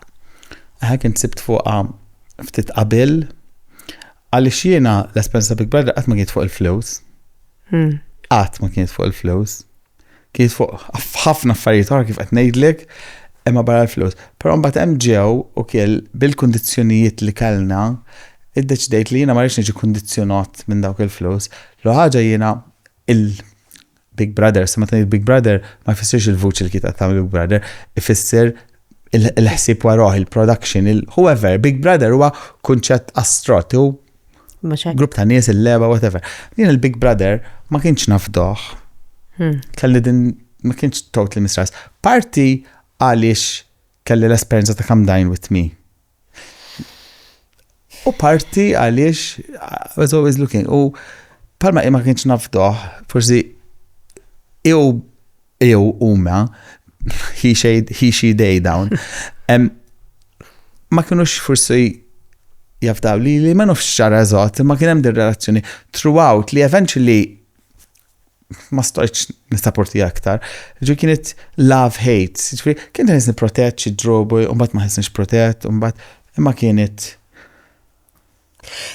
Ħa kien sibt fuqha ftit qabel għaliex jiena l-esperjenza Big Brother qatt ma kienet fuq il-flus. Hmm. Qatt ma kienet fuq il-flus. Kiet fuq ħafna affarijiet oħra kif qed ngħidlek, imma barra l-flus. Però mbagħad hemm ġew u kiel bil-kundizzjonijiet li kellna, iddeċidejt li jiena ma rridx niġi kundizzjonat minn dawk il-flus. L-ewwel ħaġa jiena il-Big Brother, sa meta ngħid Big Brother ma jfissirx il-vuċi li kiet qed tagħmel Big Brother, ifisser il-ħsieb warajh, il-production, il-whoever, Big Brother huwa kunċett astrott, hu Grupp ta' nies il-leba, whatever. Jien il-Big Brother ma kienx nafdoħ. Hmm. Kelli din ma kienx totally mistress. Parti għaliex kelli l-esperjenza ta' Come Dine With Me. U parti għaliex I was always looking. U palma ma kienx nafdoħ, forsi jew jew huma, he, she, they dawn, ma kienux forsi jafdaw li li ma nafx xara eżatt, ma kien hemm din relazzjoni throughout li eventually ma stajtx nistaporti aktar. Ġi kienet love hate, ġifri, kien ta' nisni protett xi drobu, mbagħad ma ħisnix protett, mbagħad imma kienet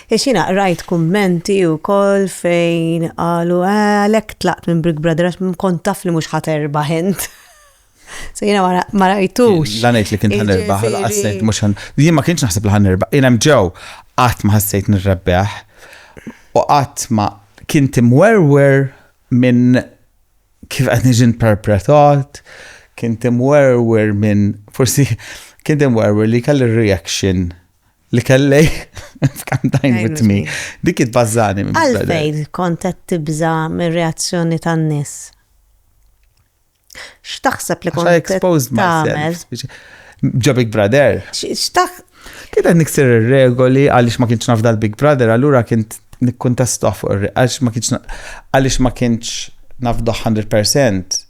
Għax jiena qrajt kummenti wkoll fejn qalu eh, għalhekk tlaqt minn Big Brother għax kont taf li mhux ħa terbaħ int. So jiena ma ra- ma rajtux. La ngħid li kien ħan irbaħ, Jiġifieri- laqas ngħid mhux ħan. Jien ma kienx naħseb li ħan irbaħ. Jien hemm ġew qatt ma ħassejt nirrebbeħ u qatt ma kien timwerwer minn kif qed niġi interpretat, kien timwerwer minn forsi kien timwerwer li kelli reaction Li kellej f'Can't Dine With Me. Dik it-bazzani. Għalfejn kont qed tibża' mir-reazzjoni tan-nies? X'taħseb li kont exposed myself. Ġo Big Brother. X'taħ. Kien qed niksir ir-regoli għaliex ma kienx nafda l-Big Brother, allura kien nikkuntestuh fuq għaliex ma kienx għaliex ma kienx nafduh 100%.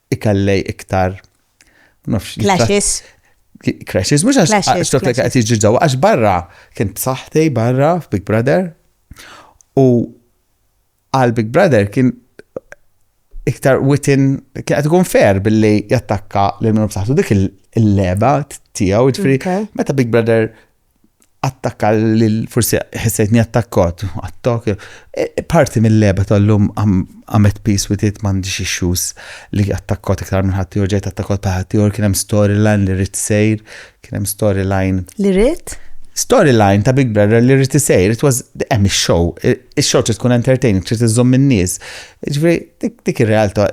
ikallej iktar. Clashes. Clashes, mux għax xtof li għati ġiġaw, għax barra, kien b'saħti barra f'Big Brother, u għal Big Brother kien iktar within, kien għati kun fair billi jattakka l-minu b'saħtu dik il-leba tijaw, ġifri, meta Big Brother attakka lil forsi ħissejtni attakkot, attok. E, e, parti mill-leba tal-lum għamet peace with it m'għandix issues li attakkot iktar minn ħadd ieħor ġejt attakkot ta' ħadd ieħor kien hemm storyline li rrid sejr, kien hemm storyline. Li rrid? Storyline ta' Big Brother li rrid isejr, it was hemm ix-show. Ix-show trid tkun entertaining, trid iżżomm in-nies. Ġveri, dik ir-realtà,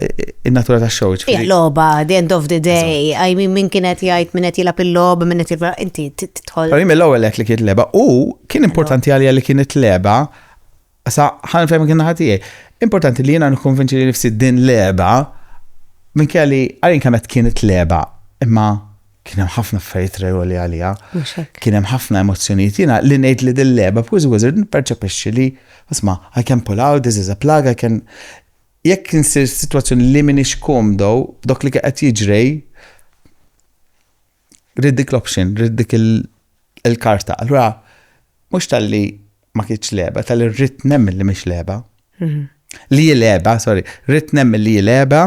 in-natura ta' xow. Ija loba, the end of the day, I mean, min kienet jgħid, min qed jilab il-lob, min qed jilab, inti titħol. Għarim l-ewel li kienet leba, u kien importanti għalija li kienet leba, sa ħan fejn kien ħatijaj. Importanti li jena nkonvinċi li nifsi din leba, minn kelli, għarin kamet kienet leba, imma Kien hemm ħafna affarijiet regoli għaliha. Kien hemm ħafna emozzjonijiet. Jiena li ngħid li din leba b'Wiz Wizard nipperċepixxi li isma' I can pull out, this is a plug, I can jekk insir sitwazzjoni li minix komdo b'dok li qed jiġrej rid dik l-option, rid dik il-karta. Allura mhux tal-li ma kienx leba, tal-li rrid nemmen li mhix leba. Mhm. Li leba, sorry, rrid nemmen li leba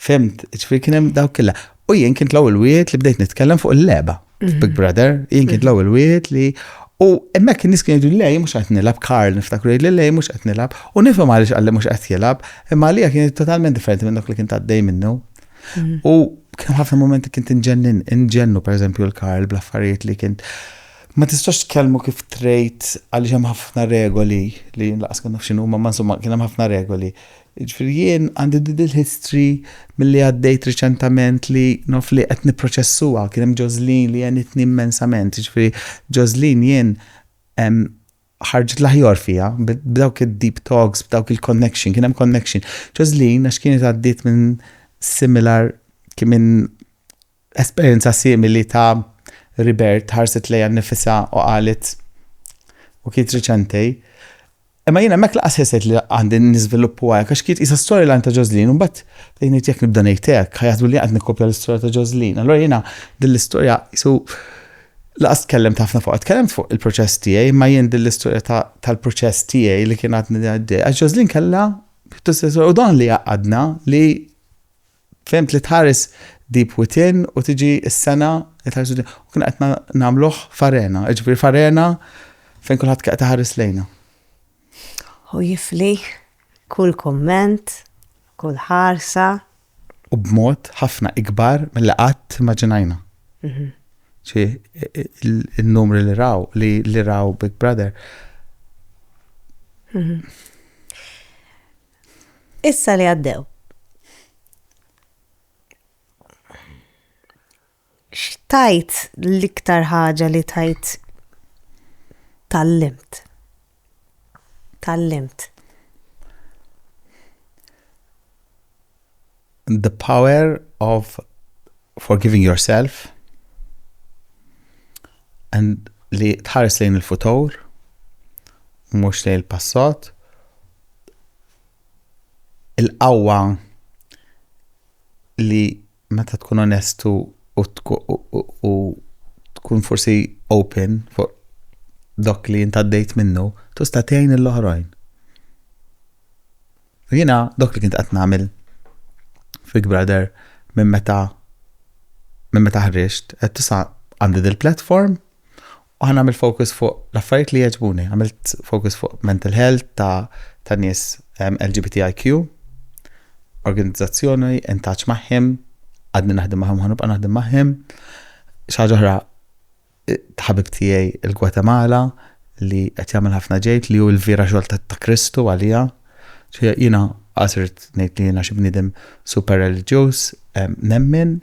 Fhimt, ġifieri kien hemm dawk killa. U jien kien tlaw il-wiet li bdejt nitkellem fuq il-leba. Mhm. Big Brother, jien kien mhm. tlaw il-wiet li U emmek nis kien jgħidu lej mhux qed nilab, Karl niftakru jgħid lej mhux qed nilab, u nifhem għaliex qalli mhux qed jilab, imma għalija kien totalment differenti minn dak li kien taddej minnu. Mhm. U kien ħafna momenti kien tinġennin, inġennu pereżempju l-Karl bl-affarijiet li kien ma tistax tkellmu kif trejt għaliex hemm ħafna regoli li laqas kien naf x'inhu ma insomma kien hemm ħafna regoli. Jiġifieri jien għandi din il-history milli għaddejt riċentament li naf li qed nipproċessuha. Kien hemm Joslin li għenitni immensament. Jiġifieri Joslin jien ħarġet l-aħjor fija b'dawk id-deep talks, b'dawk il-connection, kien hemm connection. Joslin għax kienet għaddiet minn similar kien minn Esperjenza simili ta' Ribert ħarset lejha nnifisha u qalet, U kiet riċenti, Imma jien hemmhekk lanqas ħissejt li għandi niżviluppu għajr, għax kiet qisha storyline ta' Joslin, u mbagħad bdejt ngħid jekk nibda ngħid hekk, ħa jaħsbu li jien qed nikkopja l-istorja ta' Joslin. Allura jiena din l-istorja qisu lanqas tkellimt ħafna fuqha. Tkellimt fuq il-proċess tiegħi, imma jien din l-istorja tal-proċess tiegħi li kien għadni għaddej. Għax Joslin kellha pjuttost u dan li għaqadna li Fehmt li tħares Deep Within u tiġi s-sena li tħares Within u kien qed nagħmluh f'arena, jiġifieri f'arena fejn kulħadd kien qed iħares lejna. U jifli kull kumment, kull ħarsa. U b'mod ħafna ikbar milli qatt immaġinajna. Ġi n-numri li raw, li raw Big Brother. Issa li għaddew. X'tajt l-iktar ħaġa li tajt tal-limt? Tal-limt. The power of forgiving yourself and li tħares lejn il-futur mhux lejn il-passat il-qawwa li meta tkun onestu u tkun forsi open fuq dok li jintaddejt minnu, tusta tgħin l-oħrajn. U jiena dok li kint qed nagħmel Big Brother minn meta minn meta ħriġt qed tisa' għandi dil-platform u ħa nagħmel focus fuq l-affarijiet li jogħġbuni. Għamilt focus fuq mental health ta' ta' nies um, LGBTIQ, organizzazzjoni, intaċ maħħim, għadni naħdem maħħim, ħanibqa naħdem maħħim, xaġa oħra Ħabib tiegħi il-Gwatemala li qed jagħmel ħafna ġejd li hu l-vira xogħol ta' Kristu għalija. Jiena qas irid ngħid li jiena xi bniedem super reliġjuż, nemmen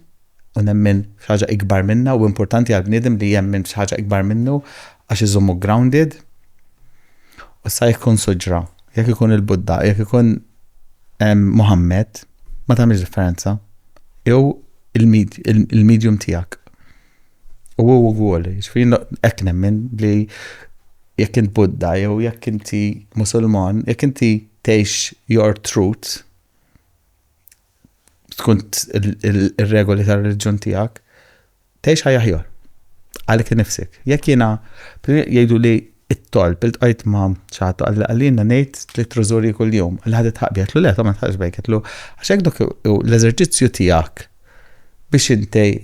u nemmen f'ħaġa ikbar minnha u importanti għal bniedem li jemmen f'ħaġa ikbar minnu għax iżommu grounded. U sa jekk ikun suġra, jekk ikun il-Budda, jekk ikun Muhammad, ma tagħmilx differenza. Jew il-medium tiegħek. U hu wkoll, ġifieri hekk nemmen li jekk int Buddha jew jekk inti Musulman, jekk inti tgħix your truth, tkun ir-regoli tar-reliġjon tiegħek, tgħix ħajja aħjar. Għalik nifsek. Jekk jiena jgħidu li it-tolb il-tqajt ma' ċaħat għalli għallina ngħid li trużuri kull-jum. Għalli ħadet ħaqbi għetlu le, ta' ma tħax bejk għetlu. Għax hekk l-eżerċizzju tiegħek biex intej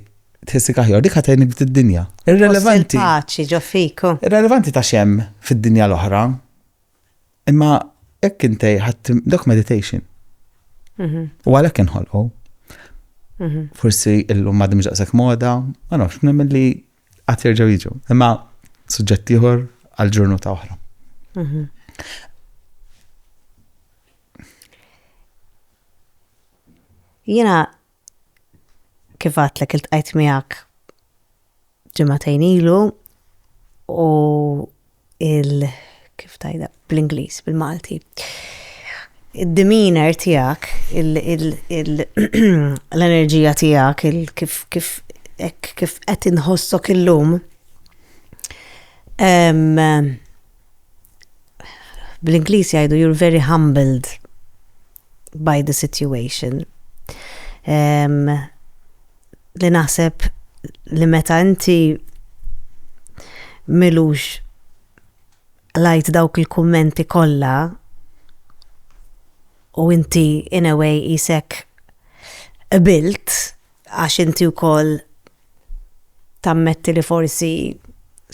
Tħissik aħjar, dik ħatejnik b'din id-dinja. Irrelevanti. Paċi ġo fiku. Irrelevanti ta' xem fid-dinja l-oħra. Imma hekk intej ħadd dak meditation. Mhm. U għalhekk inħolqu. Mhm. Forsi illum ma dimx daqshekk moda, ma nafx, nemmen li qatt jerġgħu jiġu. Imma suġġett ieħor għal ġurnata oħra. Mhm. Jena kif għatlek il-tqajt miegħek ġimagħtejn ilu u il kif tajda bl-Ingliż, bil-Malti. Id-demeanor tiegħek, l-enerġija tiegħek, kif kif kif qed inħossok illum. Bl-Ingliż jgħidu you're very humbled by the situation. Um, li naħseb li meta inti milux lajt dawk il-kummenti kollha u inti in a way isek bilt għax inti wkoll tammetti li forsi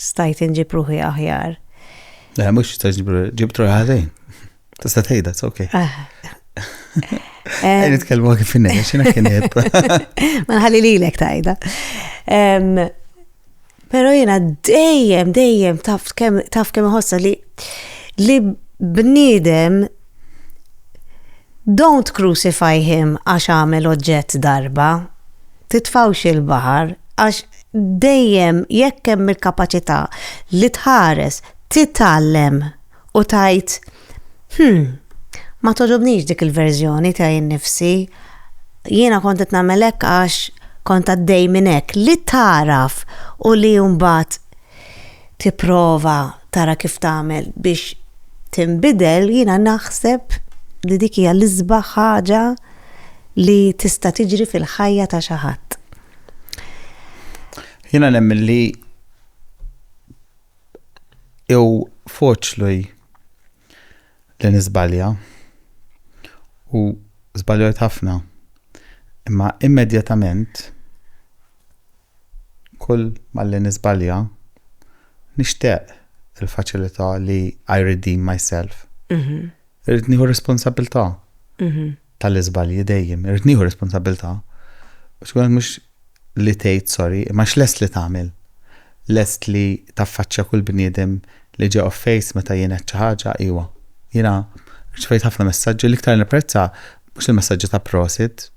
stajt inġib ruħi aħjar. Le, mux stajt inġib ruħi, ġibt ruħi ħazin. Tista tejda, it's ok. Ah. Għajn nitkellmu għak finna, xina kien jib. Ma nħalli li l-ek tajda. Pero jena dejjem, dejjem taf kem ħossa li li bnidem Don't crucify him għax għamel oġġett darba. Titfgħux il-baħar għax dejjem jekk hemm il-kapaċità li tħares, titgħallem u tgħid, Hm, ma togħġobnix dik il-verżjoni tiegħi nnifsi. Jiena kont qed nagħmel hekk għax kont għaddej minn hekk. Li tagħraf u li mbagħad tipprova tara kif tagħmel biex tinbidel, jiena naħseb li dik hija l-isbaħ ħaġa li tista' tiġri fil-ħajja ta' xi ħadd. Jiena nemmen li jew foċlu li nisbalja u żbaljajt ħafna. Imma immedjatament Kull malli niżbalja nixtaq il-faċilità li I redeem myself. Irrid nieħu r-responsabbiltà tal-iżbalji dejjem, irrid nieħu r-responsabbiltà. Biex ikun hekk mhux li tgħid sorry, imma x'lest li tagħmel? Lest li taffaċċja kull bniedem li ġie off face meta jien għedt xi ħaġa? Iwa. Jiena rċevejt ħafna messaġġi, l-iktar nipprezza mhux il-messaġġi ta' prosit,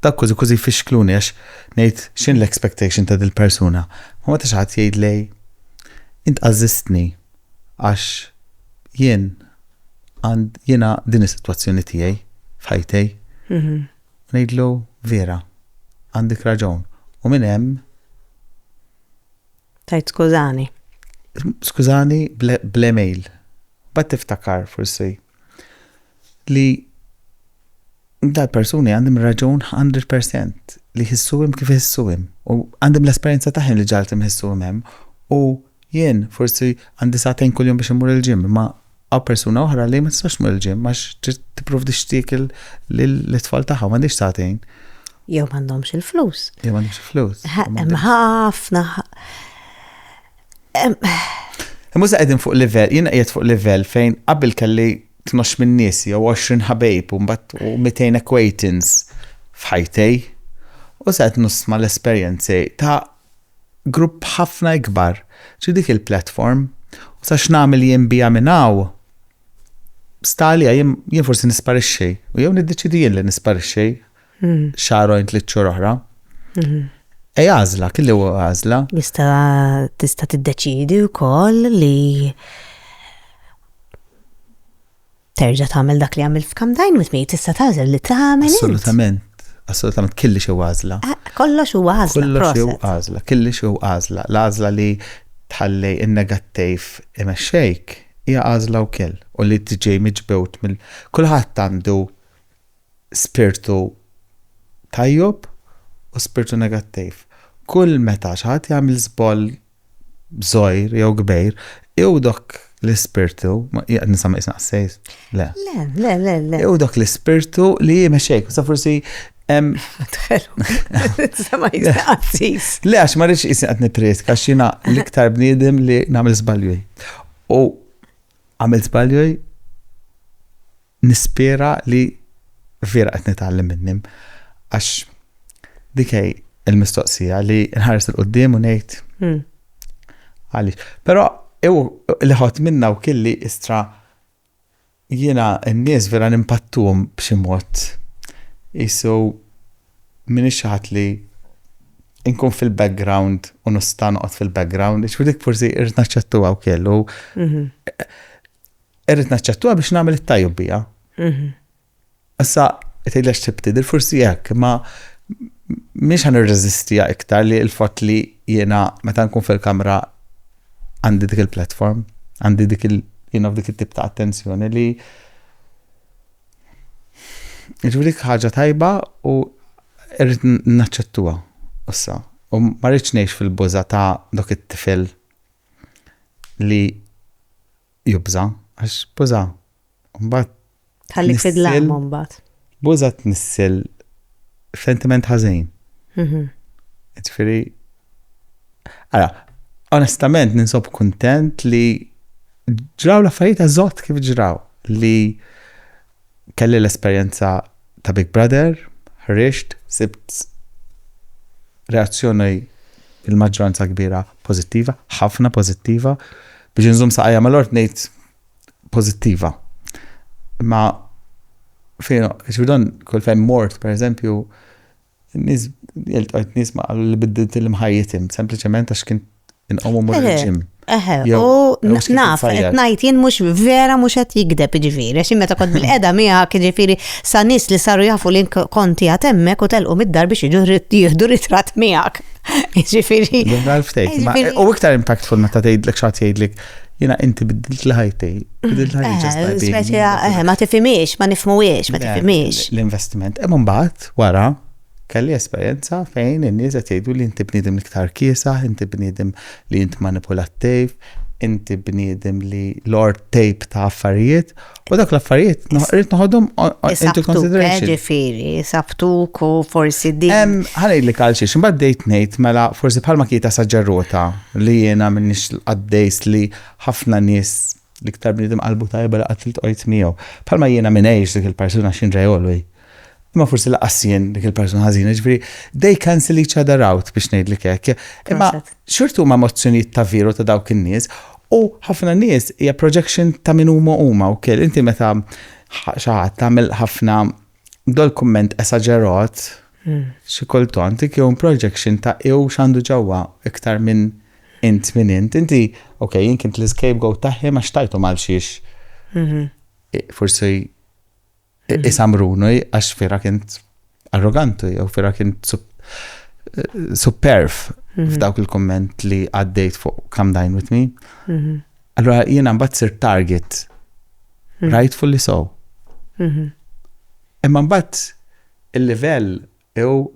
Dawk kważi kważi jfixkluni għax ngħid x'inhi l-expectation ta' dil-persuna. Ma meta xi ħadd jgħidli int għażżistni għax jien għand jiena din is-sitwazzjoni tiegħi f'ħajti. Ngħidlu vera, għandek raġun. U minn hemm Tajt skużani. Skużani bl-email. Bat tiftakar forsi li dal-persuni għandhom raġun 100% li jħissuhom kif jħissuhom u għandhom l-esperjenza tagħhom li ġaltim jħissuhom hemm u jien forsi għandi sa'tejn kuljum biex imur il-ġim ma għaw persuna oħra li ma tistax mur il-ġim għax tipprovdi xtiekel l-tfal tagħha ma għandix sa'tejn. Jew m'għandhomx il-flus. Jew m'għandhomx il-flus. Hemm ħafna Muża qegħdin fuq livell, jiena qiegħed fuq livell fejn qabel kelli tnox minn nies jew 20 ħabejb u mbagħad u 200 acquaintance f'ħajtej. U sa qed nusma l-esperjenzi ta' grupp ħafna ikbar. Ġi dik il-platform u sa x'nagħmel jien biha minn hawn stali jien forsi nisparixxi u jew niddeċidi jien li nisparixxi xahrojn tliet xhur oħra. Ej għażla, kelli huwa għażla. Jista' tista' tiddeċidi wkoll li terġa' tagħmel dak li għamil f'kam dajn mit mejt tista' tagħżel li tagħmel. Assolutament. Assolutament kelli xi għażla. Ah, kollox hu għażla. Kollox hu għażla, kelli xi għażla. L-għażla li tħalli in-negattiv imexxejk hija għażla wkoll u li tiġi miġbewt mill kulħadd għandu spirtu tajjeb u spirtu negattiv. Kull meta xi ħadd jagħmel żball żgħir jew kbir, jew dak l-ispirtu, qiegħed ninsab isem qassejs? Le. Le, le, le, le. Jew dak l-ispirtu li jmexxejk, sa forsi hemm. Sama jisqassis. Le, għax ma rridx isem qed nippriesk, għax jiena l-iktar bniedem li nagħmel żbalju. U għamil żbalju Nispera li vera qed nitgħallem minnhom għax dik hi l-mistoqsija li nħares il quddiem u ngħid hmm. għaliex. Però li ħadd minna u kelli istra jiena n-nies vera nimpattum b'xi mod. Isu minn ixħat li inkun fil-background u nista' noqgħod fil-background, dik forsi irrid naċċettuha wkoll. Mhm. Irrid naċċettuha biex nagħmel it-tajjeb biha. Mhm. Issa, tgħidlex tibtidil, forsi hekk, ma mhix ħan irreżistija iktar li l-fatt li jiena meta nkun fil-kamra għandi dik il-platform, għandi dik il- jiena f'dik it-tip ta' attenzjoni li Ġviri ħaġa tajba u irrit naċċettuha issa. U ma rridx ngħix fil-buża ta' dok it-tifel li jubża, għax buża, mbagħad. Tħalli fidlam mbagħad. Buża tnissil sentiment ħażin. Mhm. Ġifieri. Ara, onestament ninsob kuntent li ġraw l-affarijiet eżott kif ġraw li kelli l-esperjenza ta' Big Brother, ħriġt, sibt reazzjoni il-maġġoranza kbira pożittiva, ħafna pożittiva, biex inżomm saqajja mal-art ngħid pożittiva. Ma fejn, ġbidon kull fejn mort, per eżempju, Nies, iltqajt nies ma qalu li biddilt il-mħajjitim, sempliċement għax kien inqom u mur il-ġim. Eħe, u naf, qed ngħid jien mhux vera mhux qed jikdeb jiġifieri, għax meta kont bil-qeda miegħek jiġifieri sa nies li saru jafu li konti għad hemmhekk u telqu mid-dar biex jiġu jieħdu ritrat miegħek. Jiġifieri. U iktar impactful meta tgħidlek xi ħadd jgħidlek jina inti biddilt l-ħajti, biddilt l-ħajti. Eh, eh, ma tifimiex, ma nifmuwiex, ma tifimiex. L-investiment, emon bat, Wara, kelli esperjenza fejn in-nies qed jgħiduli inti bniedem l-iktar kiesaħ, inti bniedem li int manipulattiv, inti bniedem li lord tape ta' affarijiet, u dak l-affarijiet rrid noħodhom into consideration. Ġifieri, sabtuk u forsi din. Ħanejlik għal xiex, imbagħad dejt ngħid mela forsi bħalma kieta saġġerrota li jiena minnix qaddejs li ħafna nies L-iktar bniedem qalbu tajba li qatt iltqojt miegħu. Bħalma jiena m'ingħix dik il-persuna x'inġej għolwi. Imma forsi lanqas jien dik il-persuna ħażina, jiġifieri they cancel each other out biex ngħidlek hekk. Imma xorta huma emozzjonijiet ta' veru ta' dawk in-nies u ħafna nies hija projection ta' min huma huma wkoll. Inti meta xi ħadd tagħmel ħafna Dal-kumment esaġerat, xi kultant, dik jew projection ta' hu x'għandu ġewwa iktar minn int min int. Inti, ok, jien kint l-scapegoat ta' him għax tajthom għal xiex forsi isamruni għax fira kint arroganti jew fira kint superf f'dawk il-kumment li għaddejt fuq Come Dine With Me. Allora jiena mbagħad sir target. Mm. Rightfully so. Mhm. Imma mbagħad il-livell jew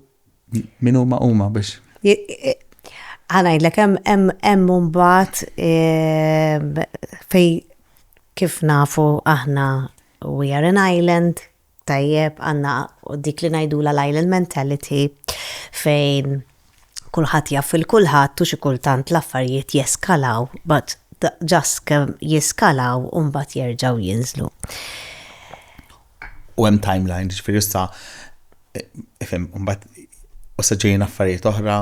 min huma huma biex. Għanajdlek, hemm mbagħad ehm, fej kif nafu aħna we are an island, tajjeb, għandna dik li ngħidulha l-island mentality fejn kulħadd jaf il-kulħadd u xi kultant l-affarijiet jeskalaw but ġast kemm jiskalaw u mbagħad jerġgħu jinżlu. U hemm timeline, ġifieri issa ifhem, mbagħad issa ġejjin affarijiet oħra,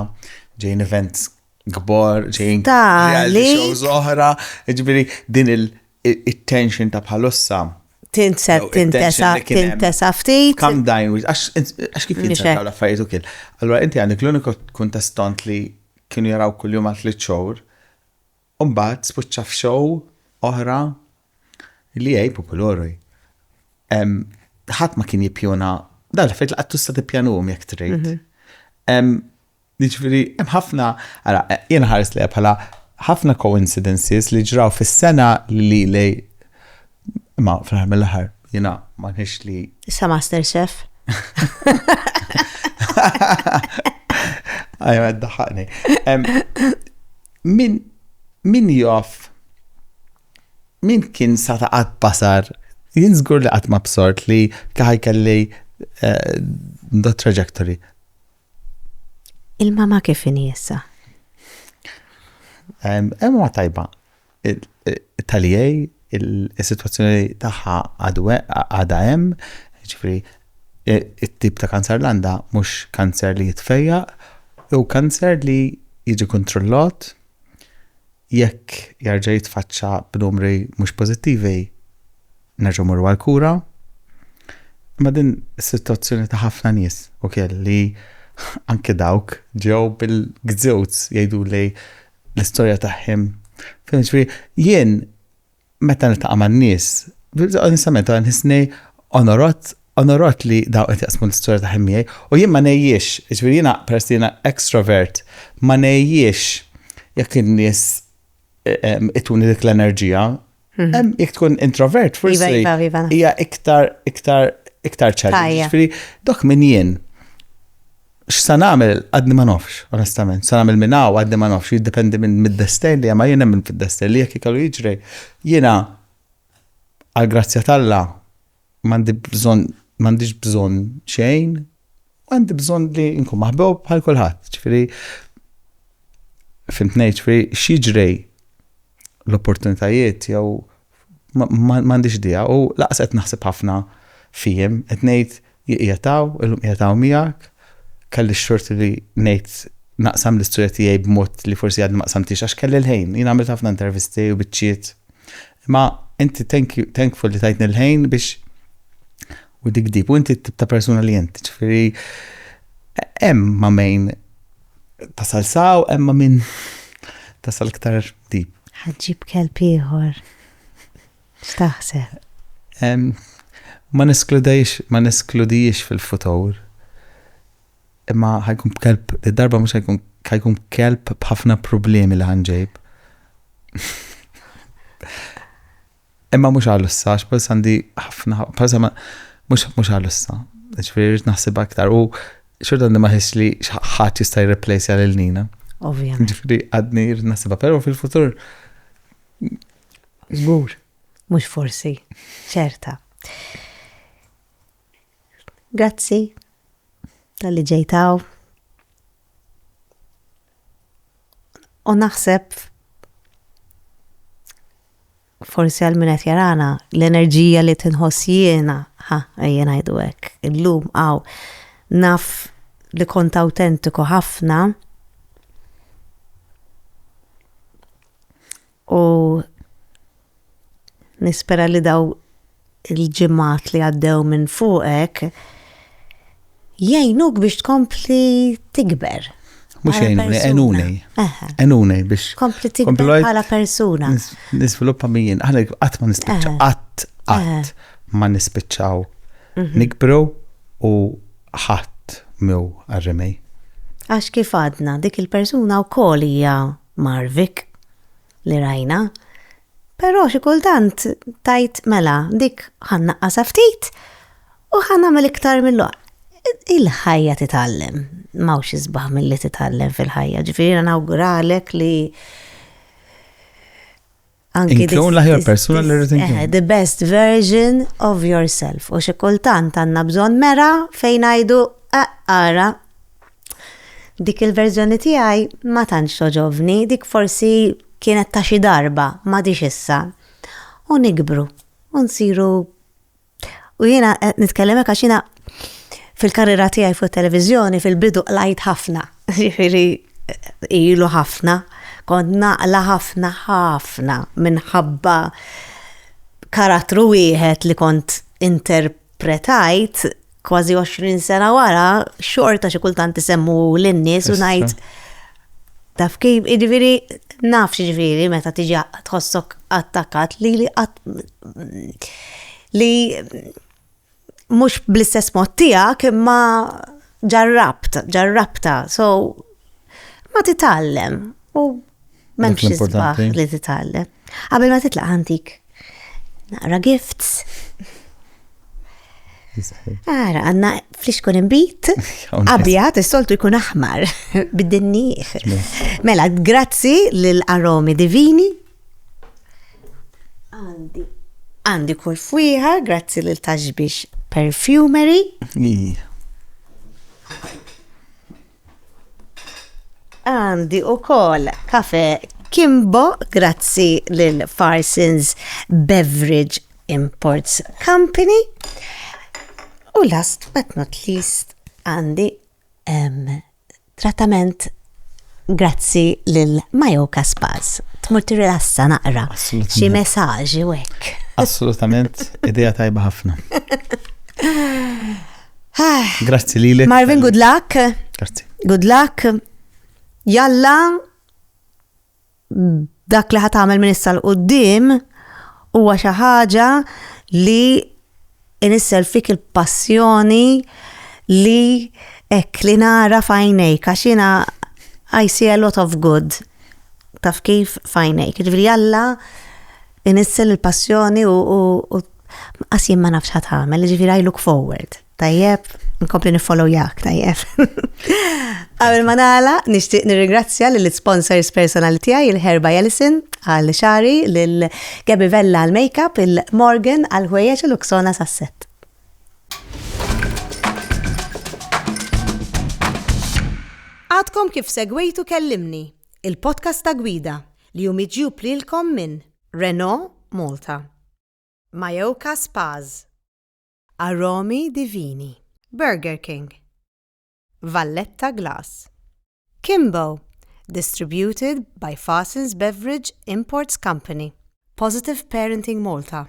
ġejjin events kbar, ġejjin reality shows oħra, ġifieri din il-tension ta' bħalussa tinset, No, it-tension tintesa, li kien hemm. tintesa ftit. Calm down, Wiz, għax għax kif Nixek. jinsaw l-affarijiet u kien. Allora inti għandek l-uniku kuntestant li kienu jaraw kuljum għal tliet xhur, u mbagħad spiċċa f'show oħra li hej popolori. Em, Ħadd ma kien jippjuna dan l-affarijiet li qatt tista' tippjanuhom jekk trid. Em, Jiġifieri hemm ħafna, ara jien ħares lejha bħala ħafna coincidences li ġraw fis-sena li lej ma fl-aħħar mill-aħħar jiena ma nħix li. Issa Master Chef. Ajma d-daħħaqni. Min min joff min kien sa ta' qatt basar jien żgur li qatt ma bsort li kaħaj kelli eh, da trajectory. Il-mama kif inhi issa? Emma tajba. Talijaj, il-situazzjoni tagħha għadha hemm, ġifri, it-tip ta' kanser l-għanda mhux kanser li jitfejja, u kanser li jiġi kontrollot Jekk jerġa' jitfaċċa b'numri mhux pożittivi, nerġgħu mmorru għall-kura. Imma din is-sitwazzjoni ta' ħafna nies ukiel li anki dawk ġew bil-gzewz jgħiduli l-istorja tagħhim. Fhimtx, ġifieri jien meta niltaqa' man-nies, onestament wara nħissni onorat, onorat li dawn qed jaqsmu l-istorja tagħhom miegħi u jien ma ngħejjiex, jiġifieri jiena peress li jiena extrovert, ma ngħejjiex jekk in-nies ituni dik l-enerġija. Jekk tkun introvert forsi hija iktar, iktar, iktar challenge. Jiġifieri dok min jien. X'sa nagħmel għadni ma nafx, onestament. Sa nagħmel minn hawn għadni ma nafx, jiddependi minn mid-destejn li hemm, jien nemmen fid-destejn li jekk ikellu jiġri, jiena għall-grazzja t'Alla m'għandi bżonn m'għandix bżonn xejn, għandi bżonn li nkun maħbub bħal kulħadd. Ġifieri fimtni, ġifieri x'jiġri l-opportunitajiet jew M'għandix idea u lanqas qed naħseb ħafna fihim. Qed ngħid hi qiegħed hawn, illum qiegħed hawn miegħek. Kelli x-xort li ngħid naqsam l-istorja tiegħi b'mod li forsi għadni ma qsamtiex għax kelli l-ħin. Jien għamilt ħafna intervisti u biċċiet. Imma inti thankful li tajtni l-ħin biex u dik dib. U inti t-tip ta' persuna li inti, ġifieri hemm ma' min tasal saw, hemm ma' min tasal iktar tip. Ħa ġġib kelb ieħor. X'taħseb? Ma neskludejx, ma neskludijiex fil-futur. Imma ħa jkun kelb, id-darba mhux ħa jkun ħa jkun kelb b'ħafna problemi li ħanġejb. Imma mhux għal issa, għax bħalissa għandi ħafna, bħalissa mhux għal issa. Ġifieri rrid naħseb aktar u xorta għandi ma ħiss li ħadd jista' jirreplejsja lil Nina. Ovvjament. Ġifieri għadni rrid naħsibha, però fil-futur żgur. Mhux forsi, ċerta. Grazzi tal-li ġejtaw. U naħseb forsi għal min qed jarana l-enerġija li tinħoss jiena, ha, ejja ngħidu hekk, illum għaw naf li kont awtentiku ħafna. U nispera li daw il-ġimgħat li għaddew minn fuqek jgħinuk biex tkompli tikber. Mhux jgħinuni, għenuni. Għenuni biex. Kompli tikber bħala persuna. Nisviluppa mijin, aħna qatt ma nispiċċa, qatt qatt ma nispiċċaw. Mhm. Nikbru u ħadd mew għarrimej. Għax kif għadna, dik il-persuna u hija Marvik, li rajna, però xi kultant tgħid mela dik ħa nnaqqasha ftit u ħa nagħmel iktar mill Il-ħajja titgħallem, m'hawnx isbaħ milli titgħallem fil-ħajja, ġifieri jiena nawguralek li Inkun l-aħjar persuna li rrid inkun. Eh, the best version of yourself. U xi kultant għandna bżonn mera fejn ngħidu eh, ara dik il-verżjoni tiegħi ma tantx toġobni, dik forsi kienet ta' xi darba, ma dix issa. U nikbru, u nsiru U jiena qed nitkellemek għax jiena fil-karriera tiegħi fuq televizjoni fil-bidu qlajt ħafna, jiġifieri ilu ħafna, kont naqla ħafna ħafna minħabba karattru wieħed li kont interpretajt kważi 20 sena wara xorta xi kultant isemmu lin-nies u ngħid Taf kif, jiġifieri naf x'jiġifieri meta tiġi tħossok attakkat li li qatt li mhux bl-istess mod tiegħek imma ġarrabt, ġarrabta. So ma titgħallem u m'hemmx isbaħ li titgħallem. Qabel ma titlaq ħantik Naqra gifts. Ara, għanna fliskun imbit, abjad, s-soltu jkun aħmar, bid-dinni. Mela, grazzi l-aromi divini. Għandi. Għandi kull fwiħa, grazzi l-taġbix perfumery. Għandi u kol kafe Kimbo grazzi lil Farsons Beverage Imports Company. U last but not least għandi um, trattament grazzi lil Majoka Spas. Tmur tirrilassa naqra. Xi messaġi wek. Assolutament, idea tajba ħafna. Ah. Grazzi li l Marvin, good luck. Grazzi. Good luck. Jalla dak li ħatamel minn issa l-qoddim huwa xi ħaġa li inissel fik il-passjoni li ek li nara fajnejk, għax jina I see a lot of good. Taf kif fajnejk. Ġviri jalla Inissel il-passjoni u qas jien ma nafx ħadd ħamel, jiġifieri I look forward. Tajjeb, nkompli nifollow jak, tajjeb. Qabel ma nagħla, nixtieq nirringrazzja lill sponsors personali tiegħi il-Herba Jelison għal xari, lil Gabi Vella għal makeup, il-Morgan għal ħwejjeġ u l-Uksona sas-set. Għadkom kif segwejtu kellimni. il-podcast ta' gwida li hu miġjub lilkom minn Renault Malta, Mayoka Spas, Aromi Divini, Burger King, Valletta Glass, Kimbo, distributed by Faasens Beverage Imports Company, Positive Parenting Malta,